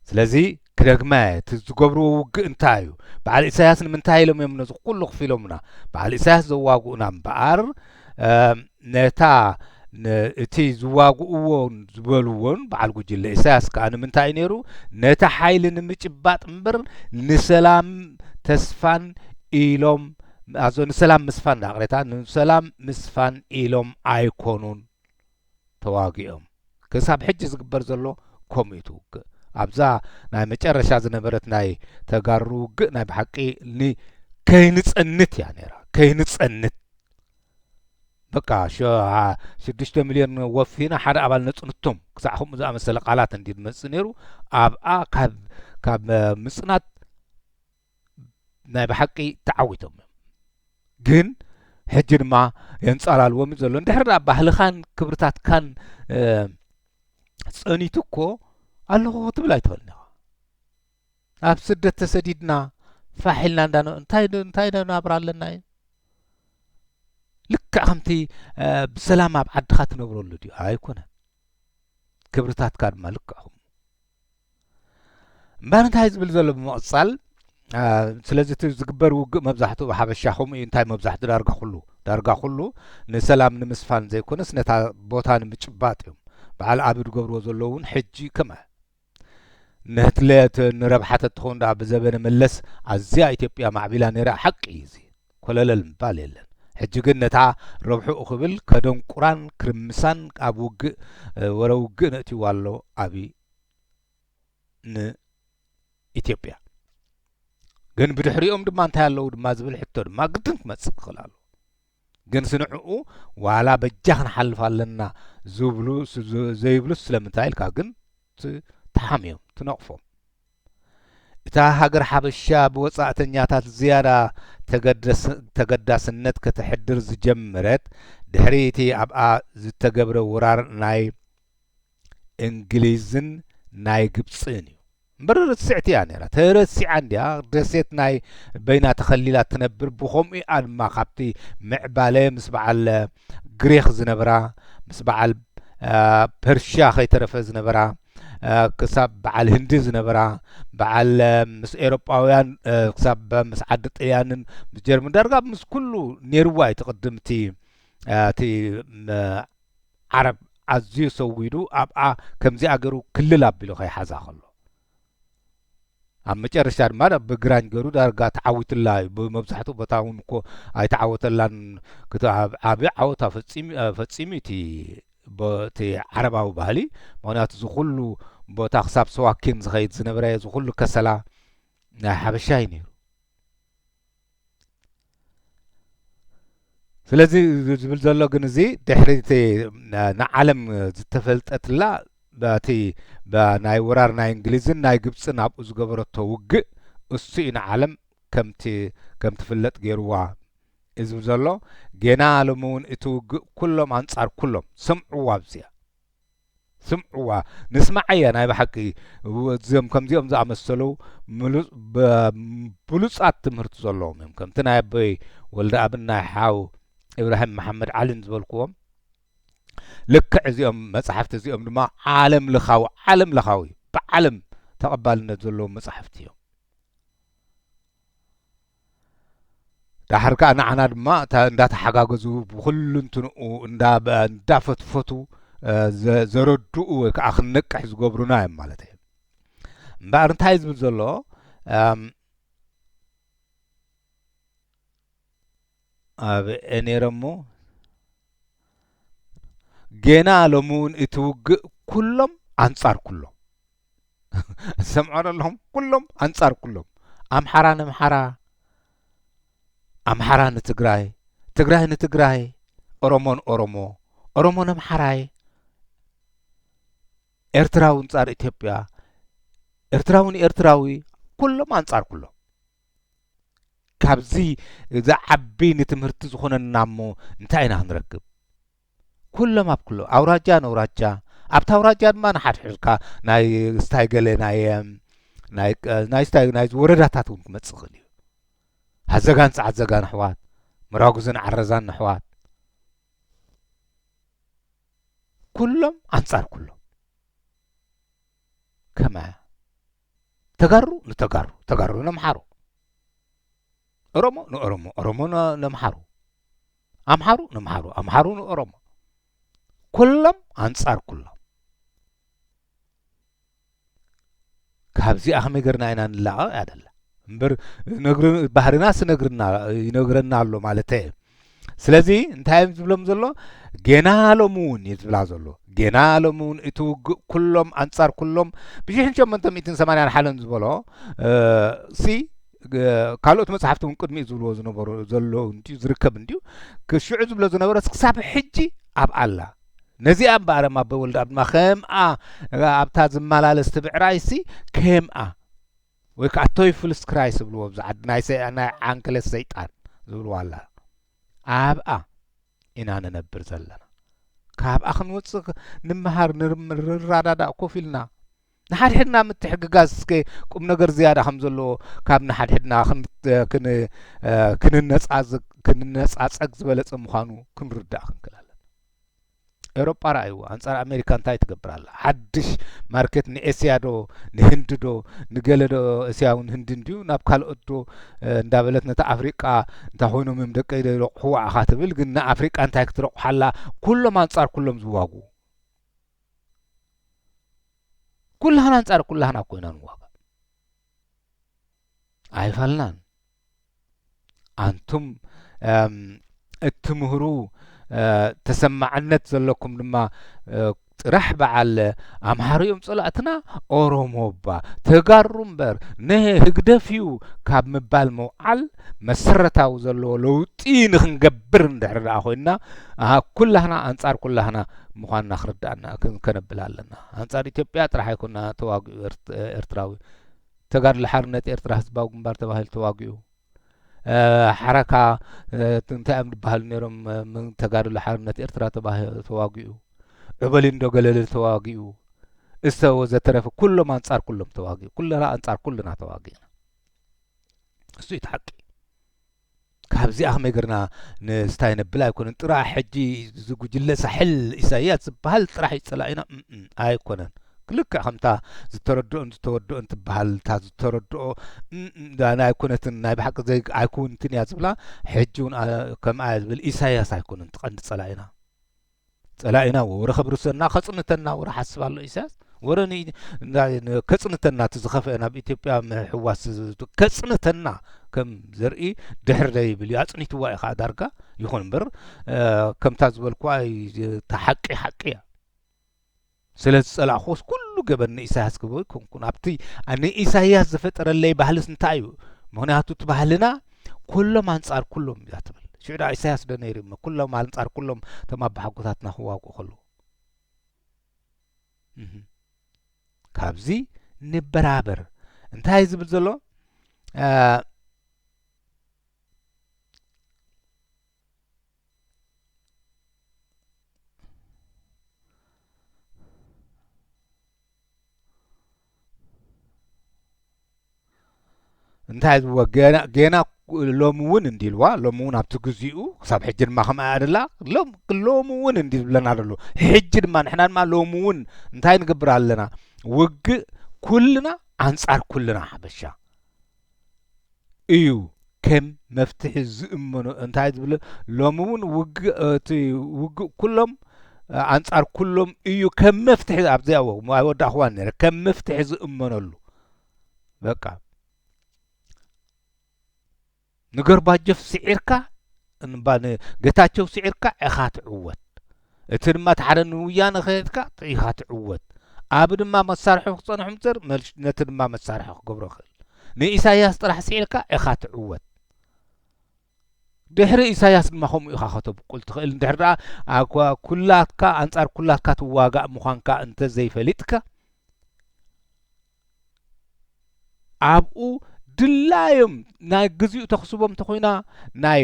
ስለዚ ክደግማ እየ እቲ ዝገብርዎ ውግእ እንታይ እዩ በዓል ኢሳያስ ንምንታይ ኢሎም እዮም ነዚ ኩሉ ክፊሎምና በዓል ኢሳያስ ዘዋግኡና እምበኣር ነታ እቲ ዝዋግእዎን ዝበልዎን በዓል ጉጅለ ኢሳያስ ከዓ ንምንታይ እዩ ነይሩ ነቲ ሓይሊ ንምጭባጥ እምበር ንሰላም ተስፋን ኢሎም ኣዞ ንሰላም ምስፋን ዳቕሬታ ንሰላም ምስፋን ኢሎም ኣይኮኑን ተዋጊኦም ክሳብ ሕጂ ዝግበር ዘሎ ኮምኢቱ ውግእ ኣብዛ ናይ መጨረሻ ዝነበረት ናይ ተጋሩ ውግእ ናይ ብሓቂ ን ከይንጸንት እያ ነይራ ከይንጸንት በቃ ሽዱሽተ ሚልዮን ወፊና ሓደ ኣባል ነጽንቶም ክሳዕ ከምኡ ዝኣመሰለ ቃላት እንዲ ዝመጽእ ነይሩ ኣብኣ ካብ ካብ ምጽናት ናይ ብሓቂ ተዓዊቶም እዮም ግን ሕጂ ድማ የንጻላልዎም እዩ ዘሎ እንድሕር ዳ ባህልኻን ክብርታትካን ጸኒቱ እኮ ኣለኹ ክትብል ኣይትኽእልን ኢኻ ኣብ ስደት ተሰዲድና ፋሕ ኢልና እንዳ እንታይ እንታይ ናብራ ኣለና እዩ ልክዕ ከምቲ ብሰላም ኣብ ዓድኻ ትነብረሉ ድዩ ኣይኮነን ክብርታትካ ድማ ልክዕ እምበር እንታይ ዝብል ዘሎ ብምቕጻል ስለዚ እቲ ዝግበር ውግእ መብዛሕትኡ ሓበሻ ከምኡ እዩ እንታይ መብዛሕትኡ ዳርጋ ኩሉ ዳርጋ ኩሉ ንሰላም ንምስፋን ዘይኮነስ ነታ ቦታ ንምጭባጥ እዮም በዓል ኣብ ዝገብርዎ ዘለዉ እውን ሕጂ ከመ ንህትለት ንረብሓ ተትኸውን ደኣ ብዘበነ መለስ ኣዝያ ኢትዮጵያ ማዕቢላ ነይራ ሓቂ እዩ እዚ ኮለለል ምባል የለን ሕጂ ግን ነታ ረብሕኡ ክብል ከደንቁራን ክርምሳን ኣብ ውግእ ወረ ውግእ ነእትይዋ ኣሎ ኣብይ ን ኢትዮጵያ ግን ብድሕሪኦም ድማ እንታይ ኣለዉ ድማ ዝብል ሕቶ ድማ ግድን ክመጽእ ክኽእል ኣለዎ ግን ስንዕኡ ዋላ በጃ ክንሓልፍ ኣለና ዝብሉ ዘይብሉ ስለምንታይ ኢልካ ግን ትሓምዮም ትነቕፎም እታ ሃገር ሓበሻ ብወጻእተኛታት ዝያዳ ተገዳስነት ከተሕድር ዝጀመረት ድሕሪ እቲ ኣብኣ ዝተገብረ ወራር ናይ እንግሊዝን ናይ ግብጽን እዩ። እምበር ርትስዕቲ እያ ነይራ ተረሲዓ እንድያ ደሴት ናይ በይና ተኸሊላ ትነብር ብኸምኡ እያ ድማ ካብቲ ምዕባለ ምስ በዓል ግሪኽ ዝነበራ ምስ በዓል ፐርሽያ ከይተረፈ ዝነበራ ክሳብ በዓል ህንዲ ዝነበራ በዓል ምስ ኤሮጳውያን ክሳብ ምስ ዓዲ ጥልያንን ምስ ጀርመን ዳርጋ ምስ ኩሉ ነይርዋ እዩ ትቕድም እቲ እቲ ዓረብ ኣዝዩ ሰዊዱ ኣብኣ ከምዚኣ ገሩ ክልል ኣቢሉ ከይሓዛ ከሎ ኣብ መጨረሻ ድማ ናብ ግራኝ ገሩ ዳርጋ ተዓዊትላ እዩ ብመብዛሕትኡ ቦታ እውን እኮ ኣይተዓወተላን ዓብ ዓወታ ፈፂሙ እቲ ቦቲ ዓረባዊ ባህሊ ምክንያቱ እዚ ኩሉ ቦታ ክሳብ ሰዋኪን ዝኸይድ ዝነበረ እዚ ኩሉ ከሰላ ናይ ሓበሻ እዩ ነይሩ ስለዚ ዝብል ዘሎ ግን እዚ ድሕሪ እቲ ንዓለም ዝተፈልጠትላ በቲ ናይ ወራር ናይ እንግሊዝን ናይ ግብፅን ኣብኡ ዝገበረቶ ውግእ እሱ እዩ ንዓለም ከምቲ ከም ትፍለጥ ገይርዋ እዚ ዘሎ ጌና ሎሚ እውን እቲ ውግእ ኩሎም ኣንጻር ኩሎም ስምዕዋ ኣብዚኣ ስምዕዋ ንስምዓያ ናይ ብሓቂ እዚኦም ከምዚኦም ዝኣመሰሉ ብሉጻት ትምህርቲ ዘለዎም እዮም ከምቲ ናይ ኣቦይ ወልደኣብን ናይ ሓው እብራሂም መሓመድ ዓሊን ዝበልክዎም ልክዕ እዚኦም መጽሓፍቲ እዚኦም ድማ ዓለም ለኻዊ ዓለም ለኻዊ ብዓለም ተቐባልነት ዘለዎም መጽሓፍቲ እዮም ዳሓር ከኣ ንዓና ድማ እታ እንዳተሓጋገዙ ብኩሉንትንኡ እንዳ እንዳፈትፈቱ ዘረድኡ ወይ ከዓ ክንነቅሕ ዝገብሩና እዮም ማለት እዩ እምበኣር እንታይ ዝብል ዘሎ ኣብ ነይረ እሞ ጌና ሎሚ እውን እቲ ውግእ ኩሎም ኣንጻር ኩሎም ዝሰምዖ ዘለኹም ኩሎም ኣንጻር ኩሎም ኣምሓራ ንምሓራ ኣምሓራ ንትግራይ ትግራይ ንትግራይ ኦሮሞ ንኦሮሞ ኦሮሞ ንምሓራይ ኤርትራዊ ኣንጻር ኢትዮጵያ ኤርትራዊ ንኤርትራዊ ኩሎም ኣንጻር ኩሎም ካብዚ ዝዓቢ ንትምህርቲ ዝኾነና እሞ እንታይ ኢና ክንረክብ? ኩሎም ኣብ ኩሎም ኣውራጃ ነውራጃ ኣብታ ኣውራጃ ድማ ንሓድሕድካ ናይ ስታይ ገለ ናይ ናይ ናይ ስታይ ናይ ወረዳታት እውን ክመጽእ ይኽእል እዩ። ኣዘጋን ጸዓዘጋን ኣሕዋት፣ መራጉዝን ዓረዛን ኣሕዋት ኩሎም ኣንጻር ኩሎም ከመያ ተጋሩ ንተጋሩ ተጋሩ ነምሓሩ ኦሮሞ ንኦሮሞ ኦሮሞ ነምሓሩ ኣምሓሩ ነምሓሩ ኣምሓሩ ንኦሮሞ ኩሎም ኣንጻር ኩሎም ካብዚኣ ከመይ ገርና ኢና ንላቐቕ እያ ደላ እምበር ባህርናስ ይነግርና ኣሎ ማለት ስለዚ እንታይ እዮም ዝብሎም ዘሎ ጌና ሎሚ እውን እዩ ዝብላ ዘሎ ጌና ሎሚ እውን እቲ ውግእ ኩሎም ኣንጻር ኩሎም ብሽሕን ሸመንተ ሚእትን ሰማንያን ሓለን ዝበሎ ሲ ካልኦት መጽሓፍቲ እውን ቅድሚኡ ዝብልዎ ዝነበሩ ዘሎ እንድዩ ዝርከብ እንድዩ ክሽዑ ዝብሎ ዝነበረ ክሳብ ሕጂ ኣብ ኣላ ነዚኣ እምበኣር ኣበይ ወልድ ኣብድማ ከምኣ ኣብታ ዝመላለስ ትብዕራይሲ ከምኣ ወይ ከዓ ቶይፍልስ ክራይ ዝብልዎ ብዛ ዓዲ ናይ ዓንክልስ ሰይጣን ዝብልዎ ኣላ ኣብኣ ኢና ንነብር ዘለና ካብኣ ክንወፅእ ንመሃር ንረዳዳእ ኮፍ ኢልና ንሓድሕድና ምትሕግጋዝ እስከ ቁም ነገር ዝያዳ ከም ዘለዎ ካብ ንሓድሕድና ክንነፃፀግ ዝበለፀ ምዃኑ ክንርዳእ ክንክል ኣለና ኤውሮጳ ረኣይዎ ኣንጻር ኣሜሪካ እንታይ ትገብር ኣላ ሓድሽ ማርኬት ንኤስያ ዶ ንህንዲ ዶ ንገለ ዶ እስያውን ህንዲ እንድዩ ናብ ካልኦት ዶ እንዳበለት ነቲ ኣፍሪቃ እንታይ ኮይኖም እዮም ደቀ ኢለ ይረቑሑ ዋዕኻ ትብል ግን ንኣፍሪቃ እንታይ ክትረቑሓላ ኩሎም ኣንጻር ኩሎም ዝዋጉ ኩላህና ኣንጻር ኩላህና ኮይና ንዋጋ ኣይፋልናን ኣንቱም እትምህሩ ተሰማዕነት ዘለኩም ድማ ጥራሕ በዓል ኣምሃሩ እዮም ጸላእትና ኦሮሞ እባ ተጋሩ እምበር ንህ ህግደፍ እዩ ካብ ምባል ምውዓል መሰረታዊ ዘለዎ ለውጢ ንክንገብር እንድሕር ደኣ ኮይንና ኩላህና ኣንጻር ኩላህና ምዃንና ክርዳእና ከነብል ኣለና ኣንጻር ኢትዮጵያ ጥራሕ ኣይኮና ተዋግኡ ኤርትራዊ ተጋድሎ ሓርነት ኤርትራ ህዝባዊ ግንባር ተባሂሉ ተዋጊኡ ሓረካ እንታይ እዮም ዝበሃሉ ነይሮም ተጋድሎ ሓርነት ኤርትራ ተዋጊኡ ዑበሊንዶ ገለል ተዋጊኡ እሰ ወዘተረፈ ኩሎም ኣንጻር ኩሎም ተዋጊኡ ኩለና ኣንጻር ኩልና ተዋጊእና እሱ እዩ ተሓቂ ካብዚ ኣክሜግርና ንስታይ ነብል ኣይኮነን ጥራሕ ሕጂ ዝጉጅለ ሳሕል ኢሳያስ ዝበሃል ጥራሕ እዩ ጸላኢና ኣይኮነን ልክዕ ከምታ ዝተረድኦን ዝተወድኦን ትበሃል እታ ዝተረድኦ ኣይኮነትን ናይ ብሓቂ ዘይ ኣይኮንትን እያ ዝብላ ሕጂ እውን ከምኣ ዝብል ኢሳያስ ኣይኮነን ትቐንዲ ፀላኢና ጸላኢና ወረ ከብርሰና ከጽንተና ወረ ሓስብ ኣሎ ኢሳያስ ወረ ከጽንተና እቲ ዝኸፍአ ናብ ኢትዮጵያ ምሕዋስ ከጽንተና ከም ዘርኢ ድሕሪ ደይብል እዩ ኣጽኒትዋ እዩ ከዓ ዳርጋ ይኹን እምበር ከምታ ዝበልኩ ተሓቂ ሓቂ እያ ስለ ዝጸላእኩዎስ ኩሉ ገበን ንኢሳያስ ክብሎ ኣይኮንኩን ኣብቲ ንኢሳያስ ዝፈጠረለይ ባህልስ እንታይ እዩ ምክንያቱ እቲ ባህልና ኩሎም ኣንጻር ኩሎም እያ ትብል ሽዑ ድኣ ኢሳያስ ዶ ነይሩ እሞ ኩሎም ኣንጻር ኩሎም እቶም ኣባሓጎታትና ክዋግኡ ከለዉ ካብዚ ንበራበር እንታይ ዝብል ዘሎ እንታይ ዝብዎ ገና ገና ሎሚ እውን እንዲ ኢልዋ ሎሚ እውን ኣብቲ ግዚኡ ክሳብ ሕጂ ድማ ከምኣ ኣደላ ሎም ሎሚ እውን እንዲ ዝብለና ዘሎ ሕጂ ድማ ንሕና ድማ ሎሚ እውን እንታይ ንገብር ኣለና ውግእ ኩልና ኣንጻር ኩልና ሓበሻ እዩ ከም መፍትሒ ዝእመኖ እንታይ ዝብለ ሎሚ እውን ውግእ እቲ ውግእ ኩሎም ኣንጻር ኩሎም እዩ ከም መፍትሒ ኣብዚኣ ኣይወዳእኹዋን ነረ ከም መፍትሒ ዝእመነሉ በቃ ንገርባጀፍ ስዒርካ እንባ ን ገታቸው ስዒርካ እኻ ትዕወት እቲ ድማ እቲ ሓደ ን ውያነ ከድካ ኢኻ ትዕወት ኣቢ ድማ መሳርሑ ክጸንሑ ምጽር መልሽ ነቲ ድማ መሳርሑ ክገብሮ ክእል ን ኢሳያስ ጥራሕ ስዒርካ እኻ ትዕወት ድሕሪ ኢሳያስ ድማ ከምኡ ኢኻ ከተብቁል ትኽእል እንድሕር ደኣ ኣኳ ኩላትካ ኣንጻር ኩላትካ ትዋጋእ ምዃንካ እንተ ዘይፈሊጥካ ኣብኡ ድላዮም ናይ ግዜኡ ተኽስቦም እንተኾይና ናይ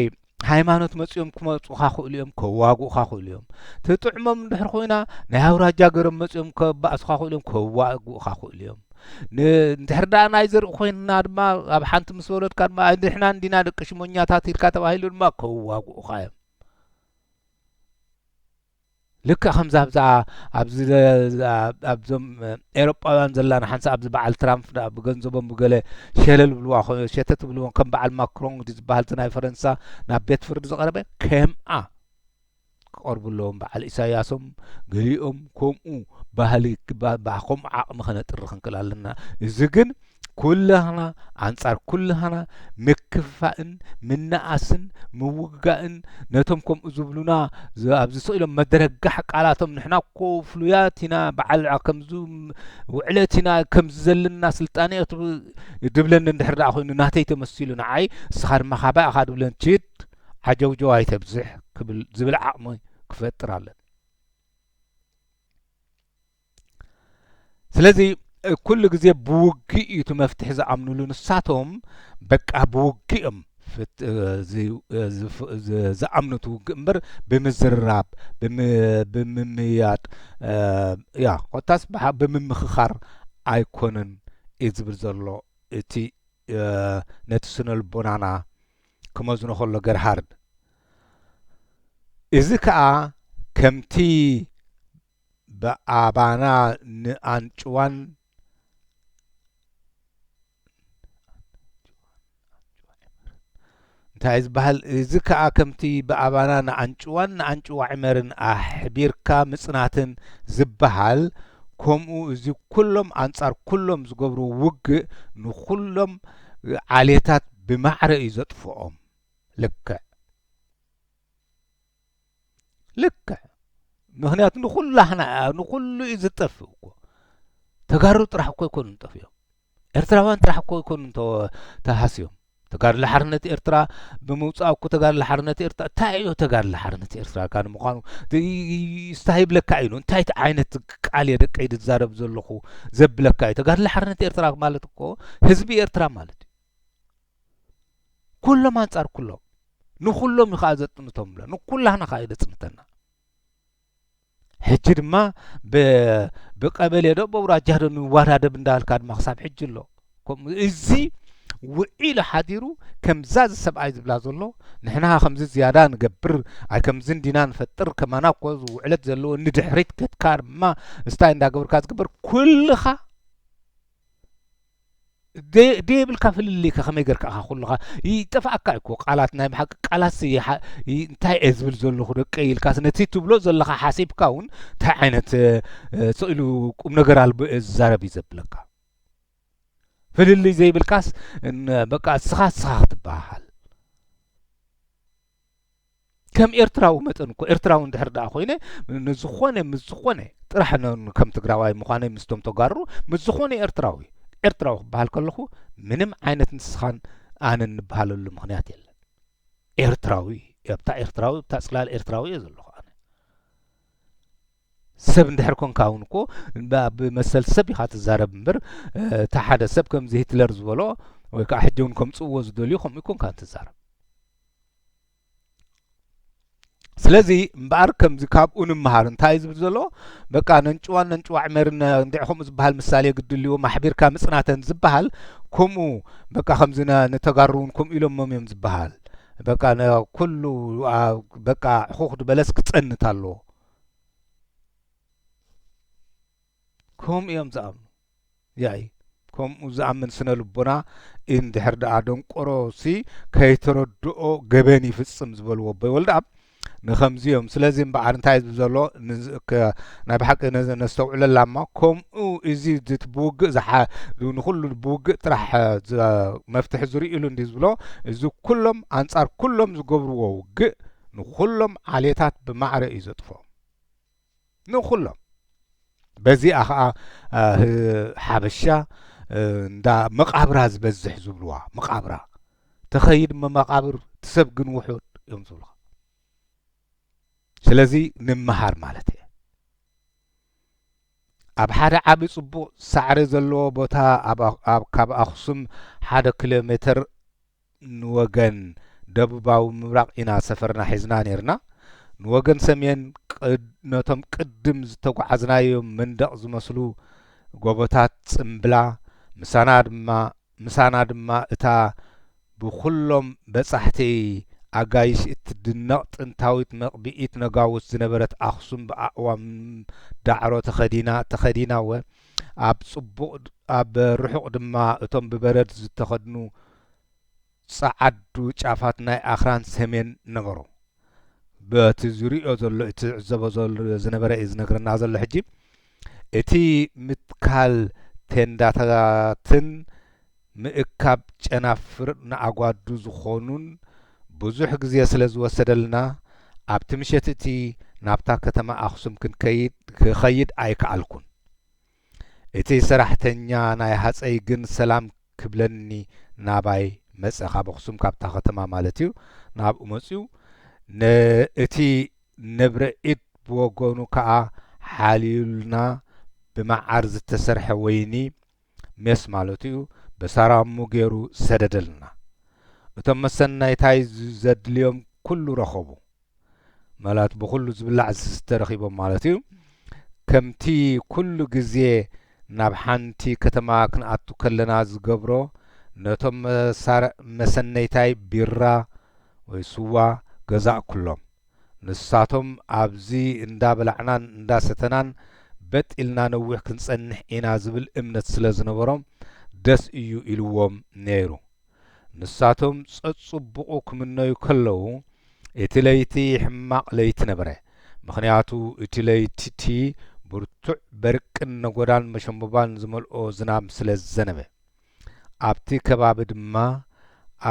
ሃይማኖት መፅኦም ክመፁኻ ክእሉ እዮም ከዋግኡኻ ክእሉ እዮም ትጥዕሞም እንድሕር ኮይና ናይ ኣውራጃ ገሮም መፅኦም ከባእሱኻ ክእሉ እዮም ከዋግኡኻ ክእሉ እዮም ንድሕር ዳኣ ናይ ዘርኢ ኮይና ድማ ኣብ ሓንቲ ምስ ወለድካ ድማ ንሕና እንዲና ደቂ ሽሞኛታት ኢልካ ተባሂሉ ድማ ከዋግኡኻ እዮም ልክዕ ከምዛ ኣብዛ ኣብዚ ኣብዞም ኤሮጳውያን ዘላና ሓንሳ ኣብዚ በዓል ትራምፕ ደኣ ብገንዘቦም ብገለ ሸለል ብልዋ ሸተት ብልዎም ከም በዓል ማክሮን ዝበሃል እቲ ናይ ፈረንሳ ናብ ቤት ፍርዲ ዝቐረበ ከምኣ ክቐርቡ ኣለዎም በዓል ኢሳያሶም ገሊኦም ከምኡ ባህሊ ከምኡ ዓቕሚ ከነጥሪ ክንክእል ኣለና እዚ ግን ኩላህና ኣንጻር ኩላህና ምክፍፋእን ምናኣስን ምውግጋእን ነቶም ከምኡ ዝብሉና ኣብዚ ስቅ ኢሎም መደረጋሕ ቃላቶም ንሕና እኮ ፍሉያት ኢና በዓል ከምዚ ውዕለት ኢና ከምዚ ዘለና ስልጣነ ድብለኒ እንድሕር ደኣ ኮይኑ ናተይ ተመሲሉ ንዓይ ንስኻ ድማ ካባይ ኢኻ ድብለን ችድ ዓጀውጀው ኣይተብዝሕ ክብል ዝብል ዓቕሚ ክፈጥር ኣለን ስለዚ ኩሉ ግዜ ብውግእ እዩ እቲ መፍትሒ ዝኣምንሉ ንሳቶም በቃ ብውግእ እዮም ዝኣምኑ እቲ ውግእ እምበር ብምዝርራብ ብምምያጥ ያ ኮታስ ብምምኽኻር ኣይኮነን እዩ ዝብል ዘሎ እቲ ነቲ ስነ ልቦናና ክመዝኖ ከሎ ገርሃርድ እዚ ከዓ ከምቲ ብኣባና ንኣንጭዋን እንታይ እዩ ዝበሃል እዚ ከዓ ከምቲ ብኣባና ንኣንጭዋን ንኣንጭዋ ዕመርን ኣሕቢርካ ምፅናትን ዝበሃል ከምኡ እዚ ኩሎም ኣንፃር ኩሎም ዝገብሩ ውግእ ንኩሎም ዓሌታት ብማዕረ እዩ ዘጥፍኦም ልክዕ ልክዕ ምክንያቱ ንኩሉ ኣሕና ንኩሉ እዩ ዝጠፍእ እኮ ተጋሩ ጥራሕ እኮ ኣይኮኑ ጠፍኦም ኤርትራውያን ጥራሕ እኮ ኣይኮኑ ተሃስዮም ተጋድሎ ሓርነት ኤርትራ ብምውፃእ እኮ ተጋድሎ ሓርነት ኤርትራ እንታይ እዩ ተጋድሎ ሓርነት ኤርትራ ካ ንምኳኑ ስታይ ይብለካ እዩ እንታይ ዓይነት ቃል እየ ደቀይ ዝዛረብ ዘለኹ ዘብለካ እዩ ተጋድሎ ሓርነት ኤርትራ ማለት እኮ ህዝቢ ኤርትራ ማለት እዩ ኩሎም ኣንጻር ኩሎም ንኩሎም እዩ ከዓ ዘጥንቶም ብሎ ንኩላህና ከዓ እዩ ዘጽንተና ሕጂ ድማ ብቀበሌ ዶ በውራጃ ዶ ንዋዳደብ እንዳበልካ ድማ ክሳብ ሕጂ ኣሎ ከምኡ እዚ ውዒሉ ሓዲሩ ከምዛ እዚ ሰብኣይ ዝብላ ዘሎ ንሕና ከምዚ ዝያዳ ንገብር ኣይ ከምዚ እንዲና ንፈጥር ከማና እኮ ውዕለት ዘለዎ ንድሕሪት ከትካ ድማ እስታይ እንዳገብርካ ዝግበር ኩልኻ ደየብልካ ፍልልይ ከ ከመይ ጌርካ ኢኻ ኩልኻ ይጠፍኣካ እኮ ቃላት ናይ ብሓቂ ቃላት እንታይ እየ ዝብል ዘለኹ ደቀይ ኢልካስ ነቲ ትብሎ ዘለኻ ሓሲብካ እውን እንታይ ዓይነት ስእሉ ቁም ነገር ኣልቦ እየ ዝዛረብ እዩ ዘብለካ ፍልልይ ዘይብልካስ በቃ እስኻ እስኻ ክትበሃል ከም ኤርትራዊ መጠን እኮ ኤርትራዊ እንድሕር ደኣ ኮይነ ንዝኾነ ምስ ዝኾነ ጥራሕ ከም ትግራዋይ ምዃነይ ምስቶም ተጋሩ ምስ ዝኾነ ኤርትራዊ ኤርትራዊ ክበሃል ከለኹ ምንም ዓይነት ንስኻን ኣነን ንበሃለሉ ምክንያት የለን ኤርትራዊ ኣብታ ኤርትራዊ ኣብታ ፅላል ኤርትራዊ እየ ዘለኹ ኣነ ሰብ እንድሕር ኮንካ እውን እኮ ብመሰል ሰብ ኢኻ ትዛረብ እምበር እቲ ሓደ ሰብ ከምዚ ሂትለር ዝበሎ ወይ ከዓ ሕጂ እውን ከምፅእዎ ዝደልዩ ከምኡ ኮንካ ትዛረብ ስለዚ እምበኣር ከምዚ ካብኡ ንምሃር እንታይ እዩ ዝብል ዘሎ በቃ ነንጭዋን ነንጭዋዕ መርን እንዲዕ ከምኡ ዝበሃል ምሳሌ ግድልዎ ማሕቢርካ ምጽናተን ዝበሃል ከምኡ በቃ ከምዚ ንተጋሩ እውን ከምኡ ኢሎሞም እዮም ዝበሃል በቃ ኩሉ በቃ ሕኹኽ ድበለስ ክጸንት ኣለዎ ከምኡ እዮም ዝኣምኑ ያኢ ከምኡ ዝኣምን ስነልቦና እንድሕር ደኣ ደንቆሮ ሲ ከይተረድኦ ገበን ይፍጽም ዝበልዎ ኣቦይ ወልደኣብ ንኸምዚ እዮም ስለዚ እምበዓር እንታይ ዝብ ዘሎ ናይ ብሓቂ ነዚ ነስተውዕለላ እሞ ከምኡ እዚ ብውግእ ዝሓ ንኹሉ ብውግእ ጥራሕ መፍትሒ ዝርእሉ እንዲ ዝብሎ እዚ ኩሎም ኣንጻር ኩሎም ዝገብርዎ ውግእ ንኹሎም ዓሌታት ብማዕረ እዩ ዘጥፎ ንኹሎም በዚኣ ኸዓ ሓበሻ እንዳ መቃብራ ዝበዝሕ ዝብልዋ መቃብራ ተኸይድ መቃብር ትሰብ ግን ውሑድ እዮም ዝብልኻ ስለዚ ንመሃር ማለት እየ ኣብ ሓደ ዓቢ ጽቡቕ ሳዕሪ ዘለዎ ቦታ ካብ ኣኽሱም ሓደ ኪሎ ሜተር ንወገን ደቡባዊ ምብራቕ ኢና ሰፈርና ሒዝና ኔርና። ንወገን ሰሜን ነቶም ቅድም ዝተጓዓዝናዮም መንደቕ ዝመስሉ ጎቦታት ጽምብላ፣ ምሳና ድማ እታ ብኹሎም በጻሕቲ ኣጋይሽ እትድነቕ ጥንታዊት መቕብኢት ነጋውስ ዝነበረት ኣኽሱም ብኣእዋም ዳዕሮ ተኸዲና፣ ኣብ ጽቡቕ ኣብ ርሑቕ ድማ እቶም ብበረድ ዝተኸድኑ ጸዓዱ ጫፋት ናይ ኣኽራን ሰሜን ነበሩ። በቲ ዝርእዮ ዘሎ እቲ ዝዕዘቦ ዝነበረ እዩ ዝነግረና ዘሎ ሕጂ እቲ ምትካል ቴንዳታትን ምእካብ ጨናፍር ንኣጓዱ ዝኾኑን ብዙሕ ግዜ ስለ ዝወሰደልና ኣብቲ ምሸት'ቲ ናብታ ከተማ ኣኽሱም ክንከይድ ክኸይድ ኣይከኣልኩን። እቲ ሰራሕተኛ ናይ ሃጸይ ግን ሰላም ክብለኒ ናባይ መጸ ካብ ኣኽሱም ካብታ ከተማ ማለት'ዩ ናብኡ መጺኡ ን እቲ ንብረ ኢድ ብወገኑ ከኣ ሓልዩልና ብመዓር ዝተሰርሐ ወይኒ ሜስ ማለቱ'ዩ በሳራሙ ገይሩ ሰደደልና። እቶም መሰነይታይ ዘድልዮም ኩሉ ረኸቡ። መላት ብኹሉ ዝብላዕ ዝስተ ረኺቦም ማለት'ዩ። ከምቲ ኩሉ ግዜ ናብ ሓንቲ ከተማ ክንኣቱ ከለና ዝገብሮ ነቶም መሰነይታይ ቢራ ወይ ስዋ ገዛእኩሎም። ንሳቶም ኣብዚ እንዳ በላዕናን እንዳ ሰተናን በጥ ኢልና ነዊሕ ክንጸንሕ ኢና ዝብል እምነት ስለ ዝነበሮም ደስ እዩ ኢልዎም ነይሩ። ንሳቶም ጸጽቡቑ ክምነዩ ከለዉ እቲ ለይቲ ሕማቕ ለይቲ ነበረ። ምኽንያቱ እቲ ለይቲ'ቲ ብርቱዕ በርቅን ነጎዳን መሸምቦባን ዝመልኦ ዝናብ ስለ ዝዘነበ። ኣብቲ ከባቢ ድማ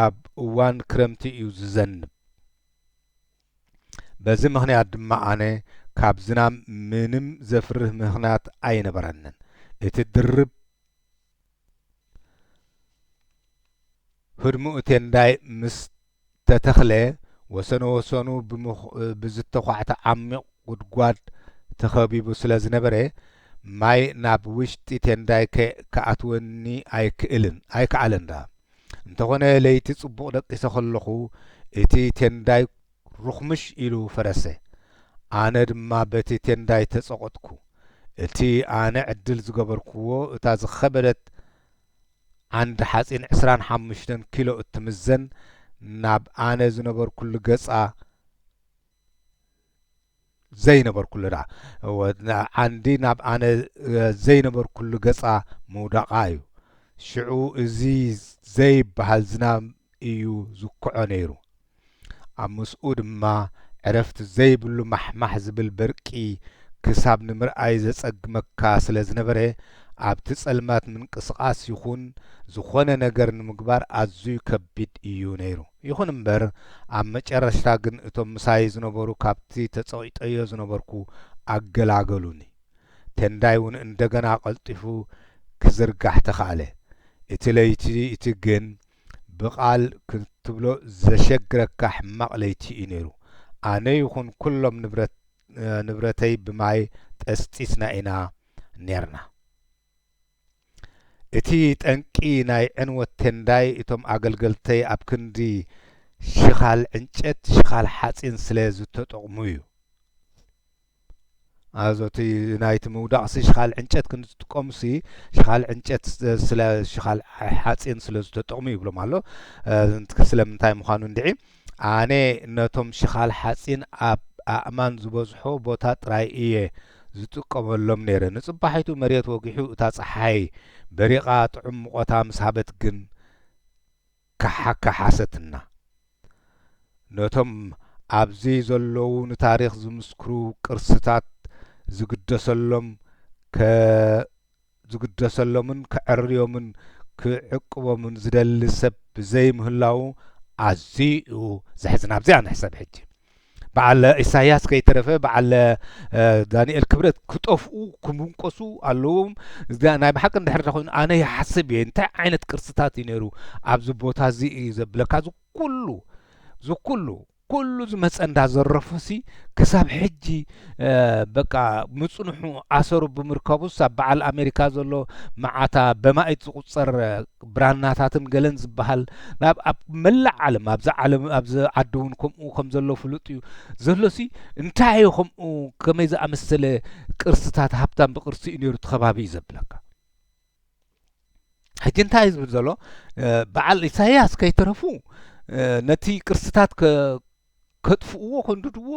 ኣብ እዋን ክረምቲ እዩ ዝዘንብ። በዚ ምኽንያት ድማ ኣነ ካብ ዝናም ምንም ዘፍርህ ምኽንያት ኣይነበረንን። እቲ ድርብ ህድሙኡ ቴንዳይ ምስ ተተኽለ ወሰኑ ወሰኑ ብዝተዃዕተ ዓሚቕ ጉድጓድ ተኸቢቡ ስለ ዝነበረ ማይ ናብ ውሽጢ ቴንዳይ ክኣትወኒ ኣይክኣለን። እንተኾነ ለይቲ ጽቡቕ ደቂሰ ከለኹ እቲ ቴንዳይ ሩኽምሽ ኢሉ ፈረሰ። ኣነ ድማ በቲ ቴንዳይ ተጸቖጥኩ። እቲ ኣነ ዕድል ዝገበርኩዎ እታ ዝኸበደት ዓንዲ ሓጺን ዕስራን ሓሙሽተን ኪሎ እትምዘን ናብ ኣነ ዝነበርኩሉ ገጻ ዘይነበርኩሉ ደኣ ዓንዲ ናብ ኣነ ዘይነበርኩሉ ገጻ ምውዳቓ እዩ። ሽዑ እዚ ዘይብሃል ዝናም እዩ ዝኩዖ ነይሩ። ኣብ ምስኡ ድማ ዕረፍቲ ዘይብሉ ማሕማሕ ዝብል በርቂ ክሳብ ንምርኣይ ዘጸግመካ ስለ ዝነበረ ኣብቲ ጸልማት ምንቅስቓስ ይኹን ዝኾነ ነገር ንምግባር ኣዝዩ ከቢድ እዩ ነይሩ። ይኹን እምበር ኣብ መጨረሽታ ግን እቶም ምሳይ ዝነበሩ ካብቲ ተጸቒጠዮ ዝነበርኩ ኣገላገሉኒ። ቴንዳይ እውን እንደገና ቀልጢፉ ክዝርጋሕ ተኻእለ። እቲ ለይቲ እቲ ግን ብቓል ክትብሎ ዘሸግረካ ሕማቕ ለይቲ እዩ ነይሩ። ኣነ ይኹን ኩሎም ንብረት ንብረተይ ብማይ ጠስጢስና ኢና ኔርና። እቲ ጠንቂ ናይ ዕንወት ቴንዳይ እቶም ኣገልገልተይ ኣብ ክንዲ ሽኻል ዕንጨት ሽኻል ሓጺን ስለ ዝተጠቕሙ እዩ። ኣዞ እቲ ናይቲ ምውዳቕሲ ሽኻል ዕንጨት ክንዲ ዝጥቀሙሲ ሽኻል ዕንጨት ስለ ሽኻል ሓጺን ስለ ዝተጠቕሙ ይብሎም ኣሎ ስለምንታይ ምዃኑ እንድዒ ኣነ ነቶም ሽኻል ሓጺን ኣብ ኣእማን ዝበዝሖ ቦታ ጥራይ እየ ዝጥቀመሎም ነይረ። ንጽባሒቱ መሬት ወጊሑ እታ ጸሓይ በሪቓ ጥዑም ሙቐታ ምስ ሃበት ግን ከሓከሓሰትና። ነቶም ኣብዚ ዘለዉ ንታሪኽ ዝምስክሩ ቅርስታት ዝግደሰሎም ከ ዝግደሰሎምን ከዐርዮምን ክዕቅቦምን ዝደሊ ሰብ ብዘይምህላዉ ኣዝዩ ዘሕዝን ኣብዚኣ ንሕሰብ ሕጂ በዓል ኢሳያስ ከይተረፈ በዓል ዳንኤል ክብረት ክጠፍኡ ክምንቆሱ ኣለዎም ናይ ብሓቂ እንድሕር ኮይኑ ኣነ ይሓስብ እየ እንታይ ዓይነት ቅርስታት እዩ ነይሩ ኣብዚ ቦታ እዚ እዩ ዘብለካ ዝኩሉ ዝኩሉ ኩሉ ዝመጸ እንዳ ዘረፎሲ ክሳብ ሕጂ በቃ ምጽንሑ ኣሰሩ ብምርካቡስ ኣብ በዓል ኣሜሪካ ዘሎ መዓታ በማኢት ዝቁጸር ብራናታትን ገለን ዝበሃል ናብ ኣብ መላእ ዓለም ኣብዛ ዓለም ኣብዚ ዓዲ እውን ከምኡ ከም ዘሎ ፍሉጥ እዩ ዘሎሲ እንታይ እዩ ከምኡ ከመይ ዝኣመሰለ ቅርስታት ሃብታም ብቅርሲ እዩ ነይሩ እቲ ከባቢ እዩ ዘብለካ ሕጂ እንታይ እዩ ዝብል ዘሎ በዓል ኢሳያስ ከይተረፉ ነቲ ቅርስታት ከጥፍእዎ ከንድድዎ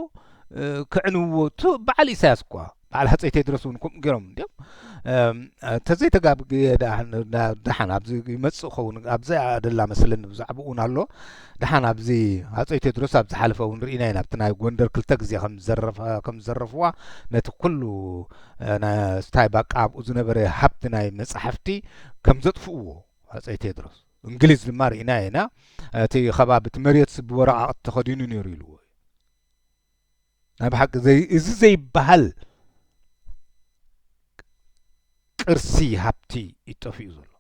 ክዕንውዎ በዓል ኢሳያስ እኳ በዓል ሃፀይ ቴድሮስ እውን ከምኡ ገይሮም እንዲም ተዘይተጋብግየ ደሓን ኣብዚ ይመፅእ ኸውን ኣብዚ ኣደላ መስለኒ ብዛዕባ እውን ኣሎ ደሓን ኣብዚ ሃፀይ ቴድሮስ ኣብ ዝሓለፈ እውን ርኢና ኢና ኣብቲ ናይ ጎንደር ክልተ ግዜ ከም ዝዘረፍዋ ነቲ ኩሉ ስታይ ባቃ ኣብኡ ዝነበረ ሃብቲ ናይ መጻሕፍቲ ከም ዘጥፍእዎ ኣፀይ ቴድሮስ እንግሊዝ ድማ ርኢና ኢና እቲ ከባቢ እቲ መሬት ብወረቃቅቲ ተኸዲኑ ነይሩ ኢልዎ ናይ ብሓቂ እዚ ዘይበሃል ቅርሲ ሃብቲ ይጠፍኡ ዘሎ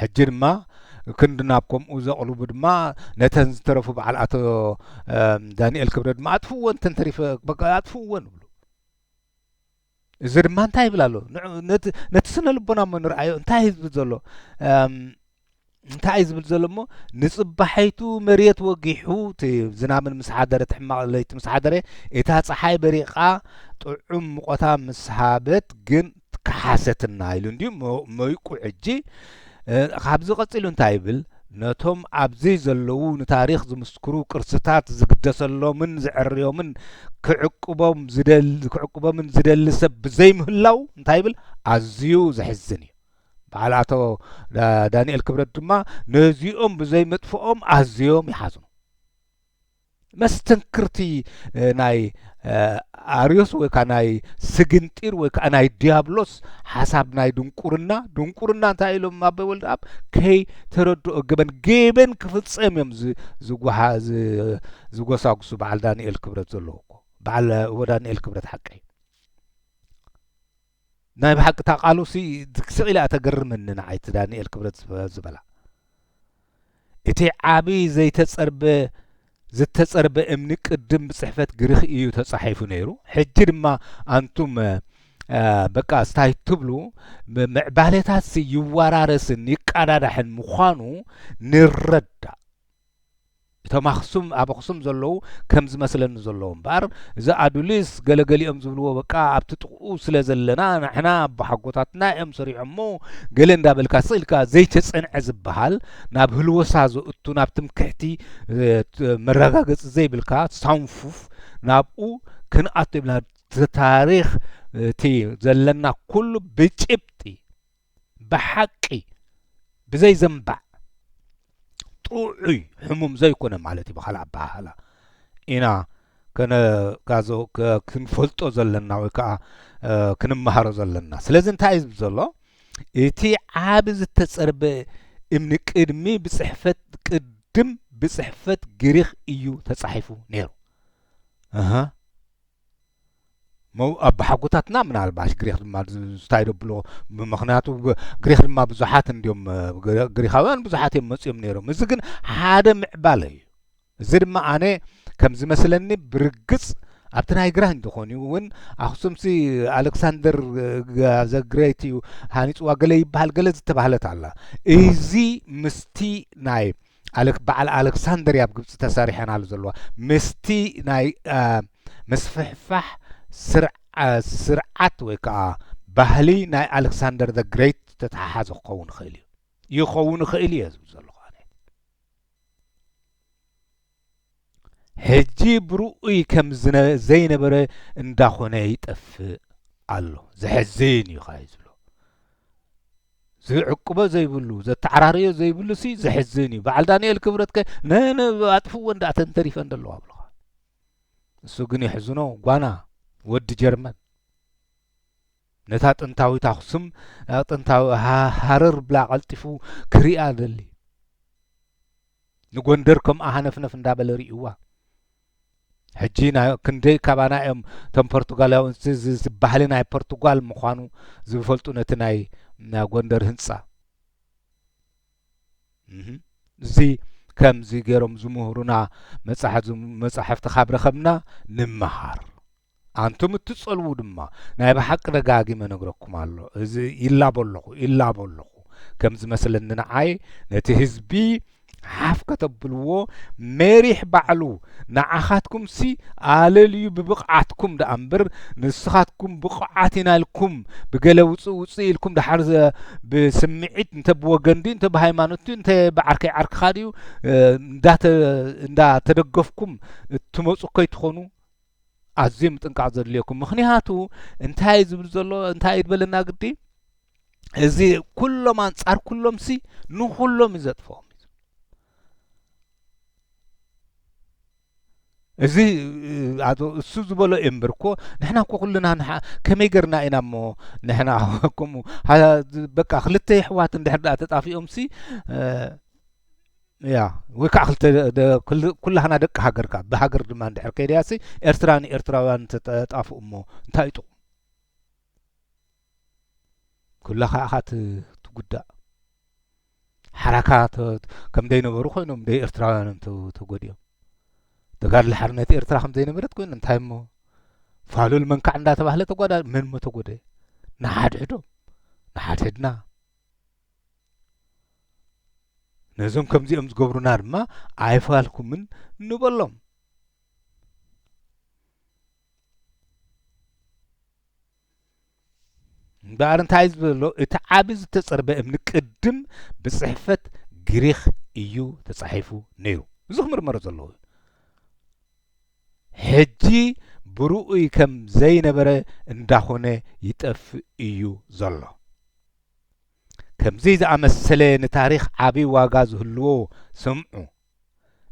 ሕጂ ድማ ክንዲ ናብ ከምኡ ዘቕልቡ ድማ ነተን ዝተረፉ በዓል ኣቶ ዳንኤል ክብረ ድማ ኣጥፍወን ተንተሪፈ በቃ ኣጥፍወን ይብሉ እዚ ድማ እንታይ ይብል ኣሎ ነቲ ስነ ልቦና እሞ ንርኣዮ እንታይ እዩ ዝብል ዘሎ እንታይ እዩ ዝብል ዘሎ እሞ ንፅባሐይቱ መሬት ወጊሑ እቲ ዝናብን ምስ ሓደረ ትሕማቕ ለይቲ ምስ ሓደረ እታ ፀሓይ በሪቓ ጥዑም ሙቐታ ምስ ሃበት ግን ክሓሰትና ኢሉ እንድዩ እሞ መይቁ ሕጂ ካብዚ ቀጺሉ እንታይ ይብል ነቶም ኣብዚ ዘለዉ ንታሪኽ ዝምስክሩ ቅርስታት ዝግደሰሎምን ዝዕርዮምን ክዕቅቦም ዝደሊ ክዕቅቦምን ዝደሊ ሰብ ብዘይምህላው እንታይ ይብል ኣዝዩ ዘሕዝን እዩ በዓል ኣቶ ዳንኤል ክብረት ድማ ነዚኦም ብዘይምጥፍኦም ኣዝዮም ይሓዝኑ መስተንክርቲ ናይ ኣርዮስ ወይ ከዓ ናይ ስግንጢር ወይ ከዓ ናይ ዲያብሎስ ሓሳብ ናይ ድንቁርና ድንቁርና እንታይ ኢሎም ኣቦይ ወልድ ኣብ ከይተረድኦ ገበን ገበን ክፍፀም እዮም ዝጓሓ ዝጎሳጉሱ በዓል ዳንኤል ክብረት ዘለዎ እኮ በዓል ወዳንኤል ክብረት ሓቀይ ናይ ብሓቂ እታ ቃሉሲ ስቅ ኢለ እያ ተገርመኒ ንዓይ እቲ ዳንኤል ክብረት ዝበላ እቲ ዓቢ ዘይተጸርበ ዝተጸርበ እምኒ ቅድም ብጽሕፈት ግሪኽ እዩ ተጻሒፉ ነይሩ ሕጂ ድማ ኣንቱም በቃ ስታይ ትብሉ ምዕባሌታትሲ ይወራረስን ይቀዳዳሕን ምዃኑ ንረዳእ እቶም ኣኽሱም ኣብ ኣኽሱም ዘለዉ ከም ዝመስለኒ ዘሎ እምበኣር እዚ ኣዱሊስ ገለ ገሊኦም ዝብልዎ በቃ ኣብቲ ጥቕኡ ስለ ዘለና ንሕና ኣቦሓጎታትና እዮም ሰሪዖሞ ገለ እንዳበልካ ስቕ ኢልካ ዘይተጸንዐ ዝብሃል ናብ ህልወሳ ዘእቱ ናብ ትምክሕቲ መረጋገጺ ዘይብልካ ሳንፉፍ ናብኡ ክንኣቱ የብልናን እቲ ታሪኽ እቲ ዘለና ኩሉ ብጭብጢ ብሓቂ ብዘይ ዘንባዕ ጥዑይ ሕሙም ዘይኮነ ማለት እዩ ብካልእ ኣበሃህላ ኢና ከነጋዞ ክንፈልጦ ዘለና ወይ ከዓ ክንመሃሮ ዘለና ስለዚ እንታይ እዩ ዘሎ እቲ ዓብ ዝተፀርበ እምኒ ቅድሚ ብፅሕፈት ቅድም ብፅሕፈት ግሪክ እዩ ተፃሒፉ ነይሩ ኣቦሓጎታትና ምናልባሽ ግሪኽ ድማ እንታይ ደብሎ ምክንያቱ ግሪኽ ድማ ብዙሓት እንዲዮም ግሪኻውያን ብዙሓት እዮም መፅኦም ነይሮም እዚ ግን ሓደ ምዕባለ እዩ እዚ ድማ ኣነ ከም ዝመስለኒ ብርግፅ ኣብቲ ናይ ግራ እንተኾን እዩ እውን ኣክሱምሲ ኣሌክሳንደር ዘግሬት እዩ ሃኒፅዋ ገለ ይበሃል ገለ ዝተባህለት ኣላ እዚ ምስቲ ናይ ኣለ በዓል ኣለክሳንደር ኣብ ግብጺ ተሰሪሐን ኣሉ ዘለዋ ምስቲ ናይ ምስፍሕፋሕ ስርዓት ወይ ከዓ ባህሊ ናይ ኣሌክሳንደር ዘ ግሬት ዝተተሓሓዘ ክኸውን ይኽእል እዩ ይኸውን ይኽእል እየ ዝብል ዘለኹ ኣነ ሕጂ ብርኡይ ከም ዘይነበረ እንዳኾነ ይጠፍእ ኣሎ ዘሕዝን እዩ ኸኣ ዝብሎ ዝዕቅቦ ዘይብሉ ዘተዓራርዮ ዘይብሉሲ ዘሕዝን እዩ በዓል ዳንኤል ክብረት ከ ኣጥፍዎ እንዳ እተን ተሪፈን ዘለዋ ብለኻ እሱ ግን የሕዝኖ ጓና ወዲ ጀርመን ነታ ጥንታዊት ኣኹስም ናብ ጥንታዊ ሃረር ብላ ቀልጢፉ ክሪኣ ደሊ ንጎንደር ከምኣ ሃነፍነፍ እንዳበለ ርእዋ ሕጂ ናይ ክንደይ ካባና እዮም እቶም ፖርቱጋላውን ባህሊ ናይ ፖርቱጋል ምዃኑ ዝፈልጡ ነቲ ናይ ናይ ጎንደር ህንጻ እዚ ከምዚ ገይሮም ዝምህሩና መጻሕፍቲ ካብ ረኸብና ንመሃር ኣንቱም እትጸልዉ ድማ ናይ ብሓቂ ደጋጊመ እነግረኩም ኣሎ እዚ ይላቦ ኣለኹ ይላቦ ኣለኹ ከም ዝመስለኒ ንዓይ ነቲ ህዝቢ ሓፍ ከተብልዎ ሜሪሕ ባዕሉ ንዓኻትኩምሲ ኣለልዩ ብብቕዓትኩም ደኣ እምበር ንስኻትኩም ብቑዓት ኢና ኢልኩም ብገለ ውፅእ ውፅእ ኢልኩም ደሓር ብስምዒት እንተ ብወገን ድዩ እንተ ብሃይማኖት ድዩ እንተ ብዓርከይ ዓርክኻ ድዩ እንዳተደገፍኩም እትመፁ ከይትኾኑ ኣዝዩ ምጥንቃቅ ዘድልየኩም ምክንያቱ እንታይ እዩ ዝብል ዘሎ እንታይ እዩ ዝበለና ግዲ እዚ ኩሎም ኣንጻር ኩሎም ሲ ንኩሎም እዩ ዘጥፍኦም እዚ ኣቶ እሱ ዝበሎ እዩ እምበር እኮ ንሕና እኮ ኩልና ንሓ ከመይ ገርና ኢና እሞ ንሕና ከምኡ በቃ ክልተ ይሕዋት እንድሕር ዳኣ ተጣፊኦም ሲ እያ ወይ ከዓ ክልተ ደ- ክል- ኩላህና ደቂ ሃገር ካብ ብሃገር ድማ እንድሕር ከይድያሲ ኤርትራ ንኤርትራውያን እንተጠጣፍኡ እሞ እንታይ እዩ ጥቕሙ ኩላኻ ኢኻ ት- ትጉዳእ ሓራካ ተ- ከም ዘይነበሩ ኮይኖም ደይ ኤርትራውያኖም ተ- ተጎዲኦም ተጋድሎ ሓርነት ኤርትራ ከም ዘይነበረት ኮይኑ እንታይ እሞ ፋሉል መንካዕ እንዳተባህለ ተጓዳ መን እሞ ተጎደ ንሓድሕዶም ንሓድሕድና ነዞም ከምዚኦም ዝገብሩና ድማ ኣይፋልኩምን ንበሎም እምበኣር እንታይ እዩ ዘሎ እቲ ዓብ ዝተጸርበ እምኒ ቅድም ብጽሕፈት ግሪኽ እዩ ተጻሒፉ ነይሩ እዚ ክምርመሮ ዘለዎ እዩ ሕጂ ብርኡይ ከም ዘይነበረ እንዳኾነ ይጠፍእ እዩ ዘሎ ከምዚ ዝኣመሰለ ንታሪኽ ዓቢ ዋጋ ዝህልዎ ስምዑ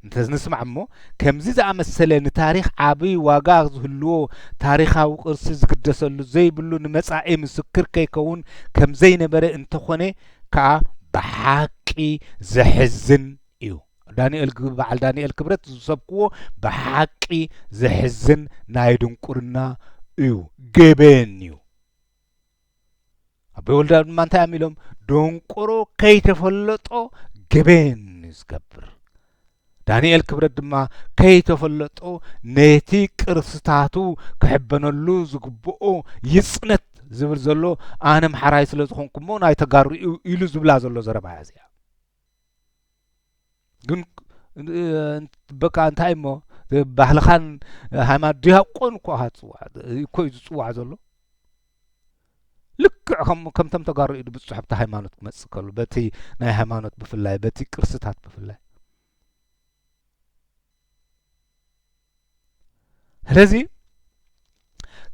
እንተ ንስማዕ እሞ ከምዚ ዝኣመሰለ ንታሪኽ ዓቢ ዋጋ ዝህልዎ ታሪኻዊ ቅርሲ ዝግደሰሉ ዘይብሉ ንመጻኢ ምስክር ከይከውን ከም ዘይነበረ እንተ ኾነ ከኣ ብሓቂ ዘሕዝን እዩ ዳንኤል በዓል ዳንኤል ክብረት ዝሰብክዎ ብሓቂ ዘሕዝን ናይ ድንቁርና እዩ ገበን እዩ ኣቦይ ወልደኣብ ድማ እንታይ እዮም ኢሎም ደንቆሮ ከይተፈለጦ ገበን እዩ ዝገብር ዳንኤል ክብረት ድማ ከይተፈለጦ ነቲ ቅርስታቱ ክሕበነሉ ዝግብኦ ይፅነት ዝብል ዘሎ ኣነ ምሓራይ ስለ ዝኾንኩ እሞ ናይ ተጋሩ እዩ ኢሉ ዝብላ ዘሎ ዘረባ እያ እዚኣ ግን በቃ እንታይ እሞ ባህልኻን ሃይማኖት ዲያቆን እኮ ኢኻ ትፅዋዕ እኮ እዩ ዝፅዋዕ ዘሎ ልክዕ ከም ከምቶም ተጋሩ ኢዱ ብፅሑፍቲ ሃይማኖት ክመፅእ ከሉ በቲ ናይ ሃይማኖት ብፍላይ በቲ ቅርስታት ብፍላይ ስለዚ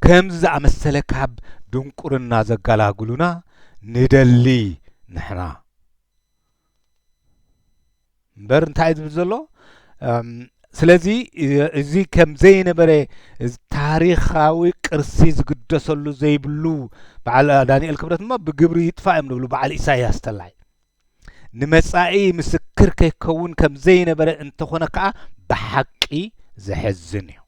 ከምዚ ዝኣመሰለ ካብ ድንቁርና ዘጋላግሉና ንደሊ ንሕና እምበር እንታይ እዩ ዝብል ዘሎ ስለዚ እዚ ከም ዘይነበረ ታሪኻዊ ቅርሲ ዝግደሰሉ ዘይብሉ በዓል ዳንኤል ክብረት እሞ ብግብሪ ይጥፋእ እዮም ዝብሉ በዓል ኢሳያስ ተላይ ንመጻኢ ምስክር ከይከውን ከም ዘይነበረ እንተኾነ ከኣ ብሓቂ ዘሕዝን እዩ።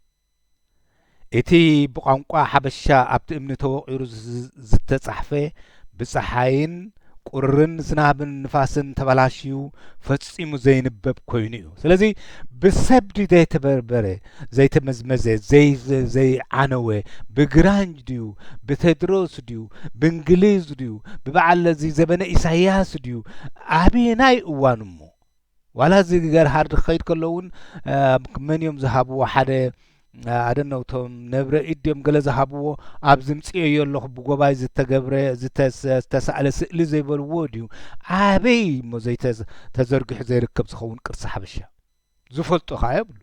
እቲ ብቋንቋ ሓበሻ ኣብቲ እምኒ ተወቒሩ ዝተጻሕፈ ብጸሓይን ቁርን ዝናብን ንፋስን ተበላሽዩ ፈጺሙ ዘይንበብ ኮይኑ እዩ። ስለዚ ብሰብ ድዩ ዘይተበርበረ ዘይተመዝመዘ ዘይዓነወ ብግራኝ ድዩ ብቴድሮስ ድዩ ብእንግሊዝ ድዩ ብበዓል እዚ ዘበነ ኢሳያስ ድዩ ኣበየናይ እዋን እሞ ዋላ እዚ ገርሃርድ ክኸይድ ከሎ እውን መን እዮም ዝሃብዎ ሓደ ኣደነው ቶም ነብረ ኢድ ድዮም ገለ ዝሃብዎ ኣብ ዝምፅኦዮ ኣለኹ ብጎባይ ዝተገብረ ዝተሳእለ ስእሊ ዘይበልዎ ድዩ ኣበይ እሞ ዘይተዘርጊሑ ዘይርከብ ዝኸውን ቅርሲ ሓበሻ ዝፈልጡ ከኣ የብሉ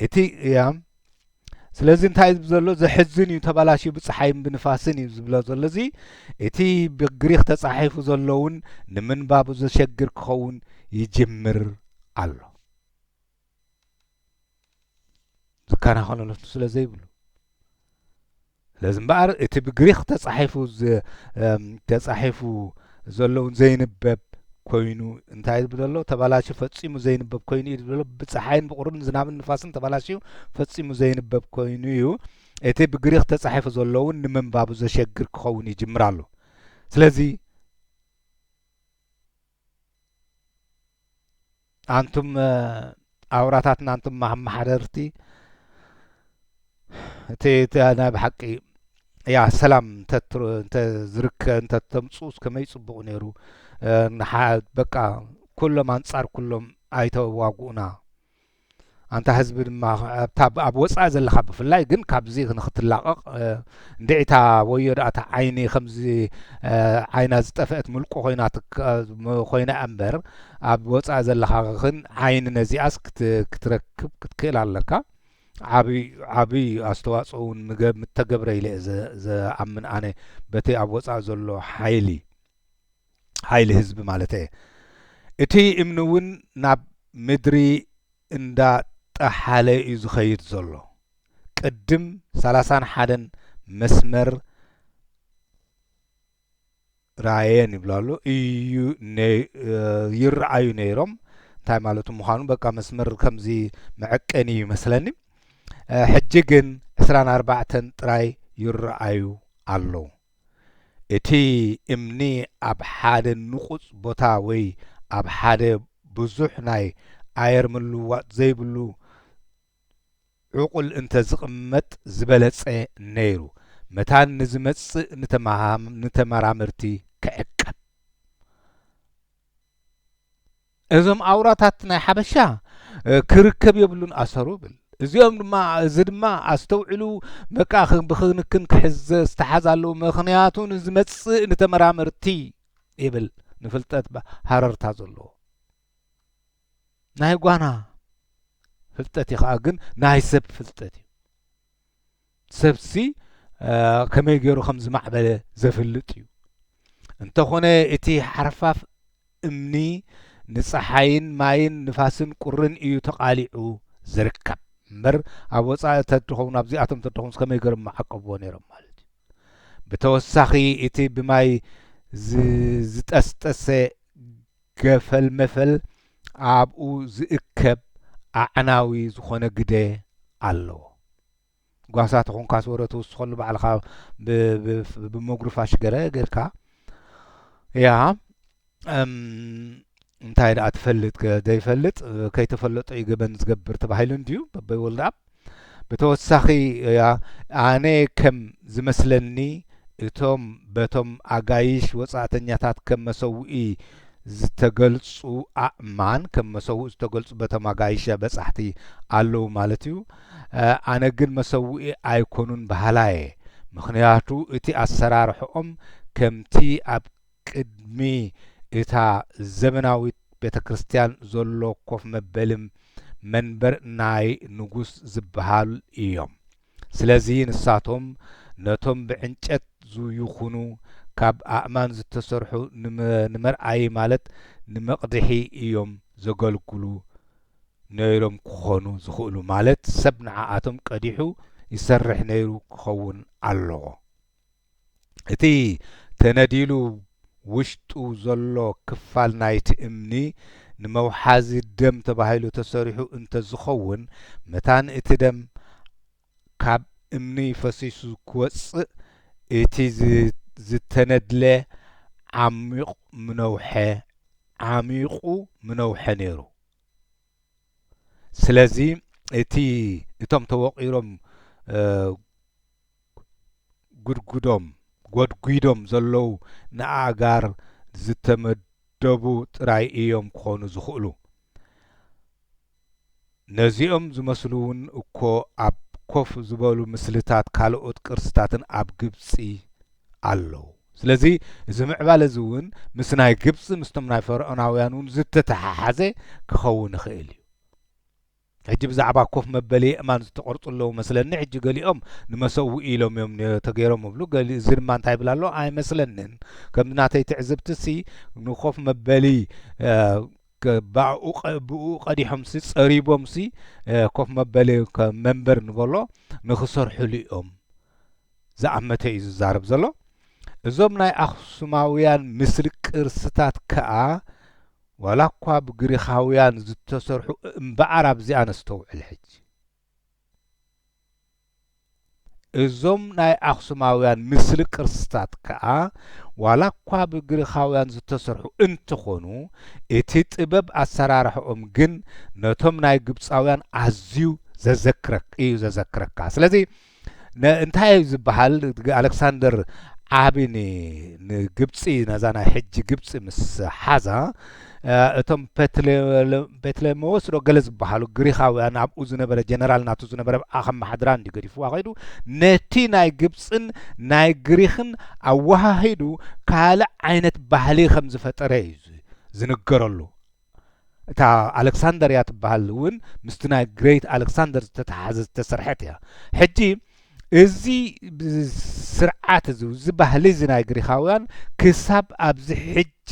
እቲ እያም ስለዚ እንታይ ዝብ ዘሎ ዘሕዝን እዩ ተባላሽዩ ብፀሓይን ብንፋስን እዩ ዝብሎ ዘሎ እዚ እቲ ብግሪኽ ተፃሒፉ ዘሎውን ንምንባቡ ዘሸግር ክኸውን ይጅምር ኣሎ ዝከናኸነሉ ስለ ዘይብሉ ስለዚ እምበኣር እቲ ብግሪክ ተጻሒፉ ተጻሒፉ ዘለውን ዘይንበብ ኮይኑ እንታይ ዝብል ዘሎ ተባላሽዩ ፈጺሙ ዘይንበብ ኮይኑ እዩ ዝብሎ ብፀሓይን ብቑርን ዝናብን ንፋስን ተባላሽዩ ፈጺሙ ዘይንበብ ኮይኑ እዩ እቲ ብግሪክ ተጻሒፉ ዘለውን ንምንባቡ ዘሸግር ክኸውን ይጅምር ኣሎ ስለዚ ኣንቱም ኣውራታትና ኣንቱም ኣመሓደርቲ እቲ ናይ ብሓቂ ያ ሰላም እንተዝርከ እንተተምፁ ከመይ ፅቡቅ ነይሩ በቃ ኩሎም ኣንፃር ኩሎም ኣይተዋግኡና ኣንታ ህዝቢ ድማ ኣብታ ኣብ ወጻኢ ዘለካ ብፍላይ ግን ካብዚ ንክትላቐቕ እንድዒታ ወዮ ደኣ እታ ዓይኒ ከምዚ ዓይና ዝጠፍአት ምልቁ ኮይና ኮይና እምበር ኣብ ወጻኢ ዘለካ ግን ዓይኒ ነዚኣስ ክትረክብ ክትክእል ኣለካ ዓብይ ዓብይ ኣስተዋፅኦ እውን ምተገብረ ኢለ ዝኣምን ኣነ በቲ ኣብ ወፃኢ ዘሎ ሓይሊ ሓይሊ ህዝቢ ማለተየ። እቲ እምኒ እውን ናብ ምድሪ እንዳ ጠሓለ እዩ ዝኸይድ ዘሎ። ቅድም ሰላሳን ሓደን መስመር ራየን ይብሉ ኣሎ እዩ ይረኣዩ ነይሮም እንታይ ማለቱ ምዃኑ በቃ መስመር ከምዚ መዐቀኒ እዩ መስለኒ ሕጂ ግን ዕስራን ኣርባዕተን ጥራይ ይረኣዩ ኣለዉ እቲ እምኒ ኣብ ሓደ ንቑጽ ቦታ ወይ ኣብ ሓደ ብዙሕ ናይ ኣየር ምልውዋጥ ዘይብሉ ዕቑል እንተ ዝቕመጥ ዝበለጸ ነይሩ፣ መታን ንዝመጽእ ንተመራመርቲ ክዕቀብ። እዞም ኣውራታት ናይ ሓበሻ ክርከብ የብሉን ኣሰሩ ብል እዚኦም ድማ እዚ ድማ ኣስተውዕሉ በቃ ብክንክን ክሕዘ ዝተሓዝ ኣለዉ ምክንያቱ ንዝመጽእ ንተመራመርቲ ይብል ንፍልጠት ሃረርታ ዘለዎ ናይ ጓና ፍልጠት እዩ ከዓ ግን ናይ ሰብ ፍልጠት እዩ ሰብሲ ከመይ ገይሩ ከም ዝማዕበለ ዘፍልጥ እዩ። እንተኾነ እቲ ሓርፋፍ እምኒ ንጸሓይን ማይን ንፋስን ቁርን እዩ ተቓሊዑ ዝርከብ። እምበር ኣብ ወጻኢ ተድኸውን ኣብዚኣቶም ተድኸውን ከመይ ገሮም መዓቀብዎ ነይሮም ማለት እዩ ብተወሳኺ እቲ ብማይ ዝጠስጠሰ ገፈል መፈል ኣብኡ ዝእከብ ኣዕናዊ ዝኾነ ግደ ኣለዎ ጓሳ ተኾንካስ ወረ ትውስኸሉ ባዕልኻ ብመጉርፋሽ ገረ ጌርካ እያ እንታይ ደኣ ትፈልጥ ዘይፈልጥ ከይተፈለጦ እዩ ገበን ዝገብር ተባሂሉ እንድዩ በበይ ወልደኣብ ብተወሳኺ እያ ኣነ ከም ዝመስለኒ እቶም በቶም ኣጋይሽ ወጻእተኛታት ከም መሰውኢ ዝተገልጹ ኣእማን ከም መሰውኢ ዝተገልጹ በቶም ኣጋይሽ በጻሕቲ ኣለዉ ማለት እዩ ኣነ ግን መሰውኢ ኣይኮኑን በሃላየ ምኽንያቱ እቲ ኣሰራርሕኦም ከምቲ ኣብ ቅድሚ እታ ዘመናዊት ቤተክርስትያን ዘሎ ኮፍ መበልም መንበር ናይ ንጉስ ዝበሃል እዮም ስለዚ ንሳቶም ነቶም ብዕንጨት ዝይኹኑ ካብ ኣእማን ዝተሰርሑ ንመርኣዪ ማለት ንመቕድሒ እዮም ዘገልግሉ ነይሮም ክኾኑ ዝኽእሉ ማለት ሰብ ንዓኣቶም ቀዲሑ ይሰርሕ ነይሩ ክኸውን ኣለዎ። እቲ ተነዲሉ ውሽጡ ዘሎ ክፋል ናይቲ እምኒ ንመውሓዚ ደም ተባሂሉ ተሰሪሑ እንተዝኸውን መታን እቲ ደም ካብ እምኒ ፈሲሱ ክወጽእ እቲ ዝተነድለ ዓሚቕ ምነውሐ ዓሚቑ ምነውሐ ነይሩ። ስለዚ እቲ እቶም ተወቒሮም ጉድጉዶም ጎድጒዶም ዘለዉ ንኣእጋር ዝተመደቡ ጥራይ እዮም ክኾኑ ዝኽእሉ። ነዚኦም ዝመስሉ'ውን እኮ ኣብ ኮፍ ዝበሉ ምስልታት ካልኦት ቅርስታትን ኣብ ግብጺ ኣለዉ። ስለዚ እዚ ምዕባለ እዚ እውን ምስ ናይ ግብጺ ምስቶም ናይ ፈርዖናውያን እውን ዝተተሓሓዘ ክኸውን ይኽእል እዩ። ሕጂ ብዛዕባ ኮፍ መበሊ የእማን ዝተቐርጹ ኣለዉ መስለኒ፣ ሕጂ ገሊኦም ንመሰውኢ ኢሎም እዮም ነ- ተገይሮም እብሉ፣ ገሊ እዚ ድማ እንታይ ይብል ኣሎ ኣይመስለንን። ከም ናተይ ትዕዝብቲሲ ንኮፍ መበሊ እ፣ ብኣኡ ብኡ ቀዲሖምሲ ጸሪቦምሲ ኮፍ መበሊ መንበር ንበሎ ንክሰርሕሉ እዮም ዝኣመተ እዩ ዝዛረብ ዘሎ እዞም ናይ ኣክሱማውያን ምስሊ ቅርስታት ከኣ ዋላ እኳ ብግሪኻውያን ዝተሰርሑ እምበኣር ኣብዚኣ ነስተውዕል ሕጂ እዞም ናይ ኣኽሱማውያን ምስሊ ቅርስታት ከኣ ዋላኳ ብግሪኻውያን ዝተሰርሑ እንተኾኑ እቲ ጥበብ ኣሰራርሓኦም ግን ነቶም ናይ ግብጻውያን ኣዝዩ ዘዘክረክ እዩ ዘዘክረካ ስለዚ እንታይ እዩ ዝበሃል ኣሌክሳንደር ዓቢ ንግብፂ ነዛ ናይ ሕጂ ግብፂ ምስ ሓዛ እቶም ፔትሌሞዎስ ዶ ገለ ዝበሃሉ ግሪኻውያን ኣብኡ ዝነበረ ጀነራል ናቱ ዝነበረ ኣኸመሓድራ እንዲ ገዲፍዋ ከይዱ ነቲ ናይ ግብፅን ናይ ግሪኽን ኣወሃሂዱ ካልእ ዓይነት ባህሊ ከም ዝፈጠረ እዩ ዝንገረሉ እታ ኣሌክሳንደርያ ትበሃል እውን ምስቲ ናይ ግሬት ኣሌክሳንደር ዝተተሓዘ ዝተሰርሐት እያ ሕጂ እዚ ስርዓት እዚ እዚ ባህሊ እዚ ናይ ግሪኻውያን ክሳብ ኣብዚ ሕጂ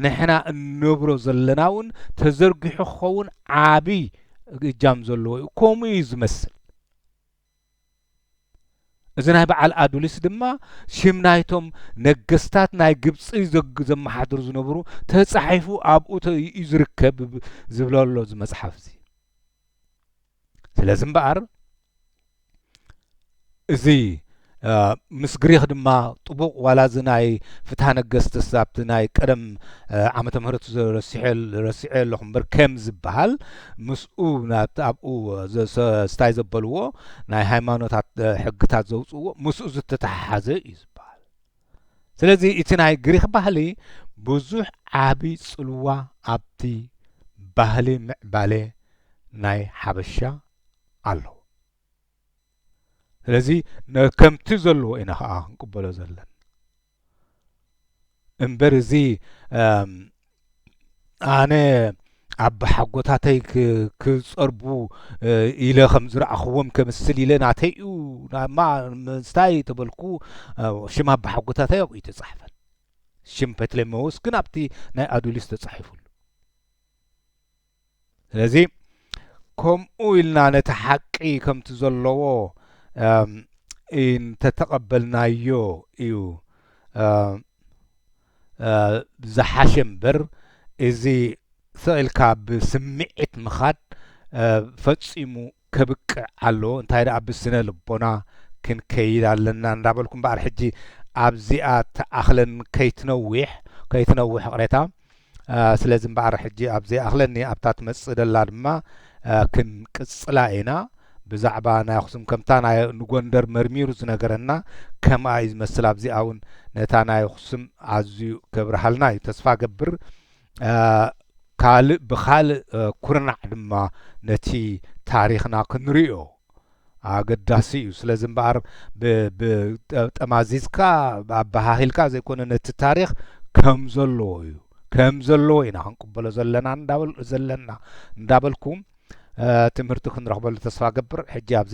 ንሕና እንነብሮ ዘለና እውን ተዘርጊሑ ክኸውን ዓቢ እጃም ዘለዎ እዩ ከምኡ እዩ ዝመስል እዚ ናይ በዓል ኣዱሊስ ድማ ሽም ናይቶም ነገስታት ናይ ግብፂ ዘመሓድሩ ዝነበሩ ተፃሒፉ ኣብኡ እዩ ዝርከብ ዝብለሎ እዚ መፅሓፍ እዚ ስለዚ እምበኣር እዚ ምስ ግሪኽ ድማ ጥቡቕ ዋላ እዚ ናይ ፍትሃ ነገስትስ ኣብቲ ናይ ቀደም ዓመተ ምህረት ረሲዐ ኣለኹ እምበር ከም ዝበሃል ምስኡ ኣብኡ ስታይ ዘበልዎ ናይ ሃይማኖታት ሕግታት ዘውፅእዎ ምስኡ ዝተተሓሓዘ እዩ ዝበሃል ስለዚ እቲ ናይ ግሪኽ ባህሊ ብዙሕ ዓቢ ጽልዋ ኣብቲ ባህሊ ምዕባለ ናይ ሓበሻ ኣለዎ ስለዚ ከምቲ ዘለዎ ኢና ከዓ ክንቅበሎ ዘለን እምበር እዚ ኣነ ኣቦሓጎታተይ ክጸርቡ ኢለ ከም ዝረኣኽዎም ከምስል ኢለ ናተይ እዩ ናማ ምስታይ ተበልኩ ሽም ኣቦሓጎታተይ ኣብኡ ተጻሕፈን ሽም ፐትሌመዎስ ግን ኣብቲ ናይ ኣዱሊስ ተጻሒፉሉ ስለዚ ከምኡ ኢልና ነቲ ሓቂ ከምቲ ዘለዎ እንተተቐበልናዮ እዩ ዝሓሸ እምበር እዚ ስቕ ኢልካ ብስምዒት ምኻድ ፈጺሙ ከብቅዕ ኣለዎ እንታይ ደኣ ብስነ ልቦና ክንከይድ ኣለና እንዳበልኩ እምበኣር ሕጂ ኣብዚኣ ትኣኽለኒ ከይትነዊሕ ከይትነውሕ ይቕሬታ ስለዚ እምበኣር ሕጂ ኣብ ዘይኣኽለኒ ኣብታ ትመጽእ ደላ ድማ ክንቅጽላ ኢና ብዛዕባ ናይ ኣኽሱም ከምታ ናይ ንጎንደር መርሚሩ ዝነገረና ከምኣ እዩ ዝመስል ኣብዚኣ እውን ነታ ናይ ኣኽሱም ኣዝዩ ከብርሃልና እዩ ተስፋ ገብር ካልእ ብኻልእ ኩርናዕ ድማ ነቲ ታሪኽና ክንሪኦ ኣገዳሲ እዩ። ስለዚ እምበኣር ጠማዚዝካ ኣበሃሂልካ ዘይኮነ ነቲ ታሪኽ ከም ዘለዎ እዩ ከም ዘለዎ ኢና ክንቅበሎ ዘለና ዘለና እንዳበልኩ ትምህርቲ ክንረኽበሉ ተስፋ ገብር ሕጂ ኣብዚ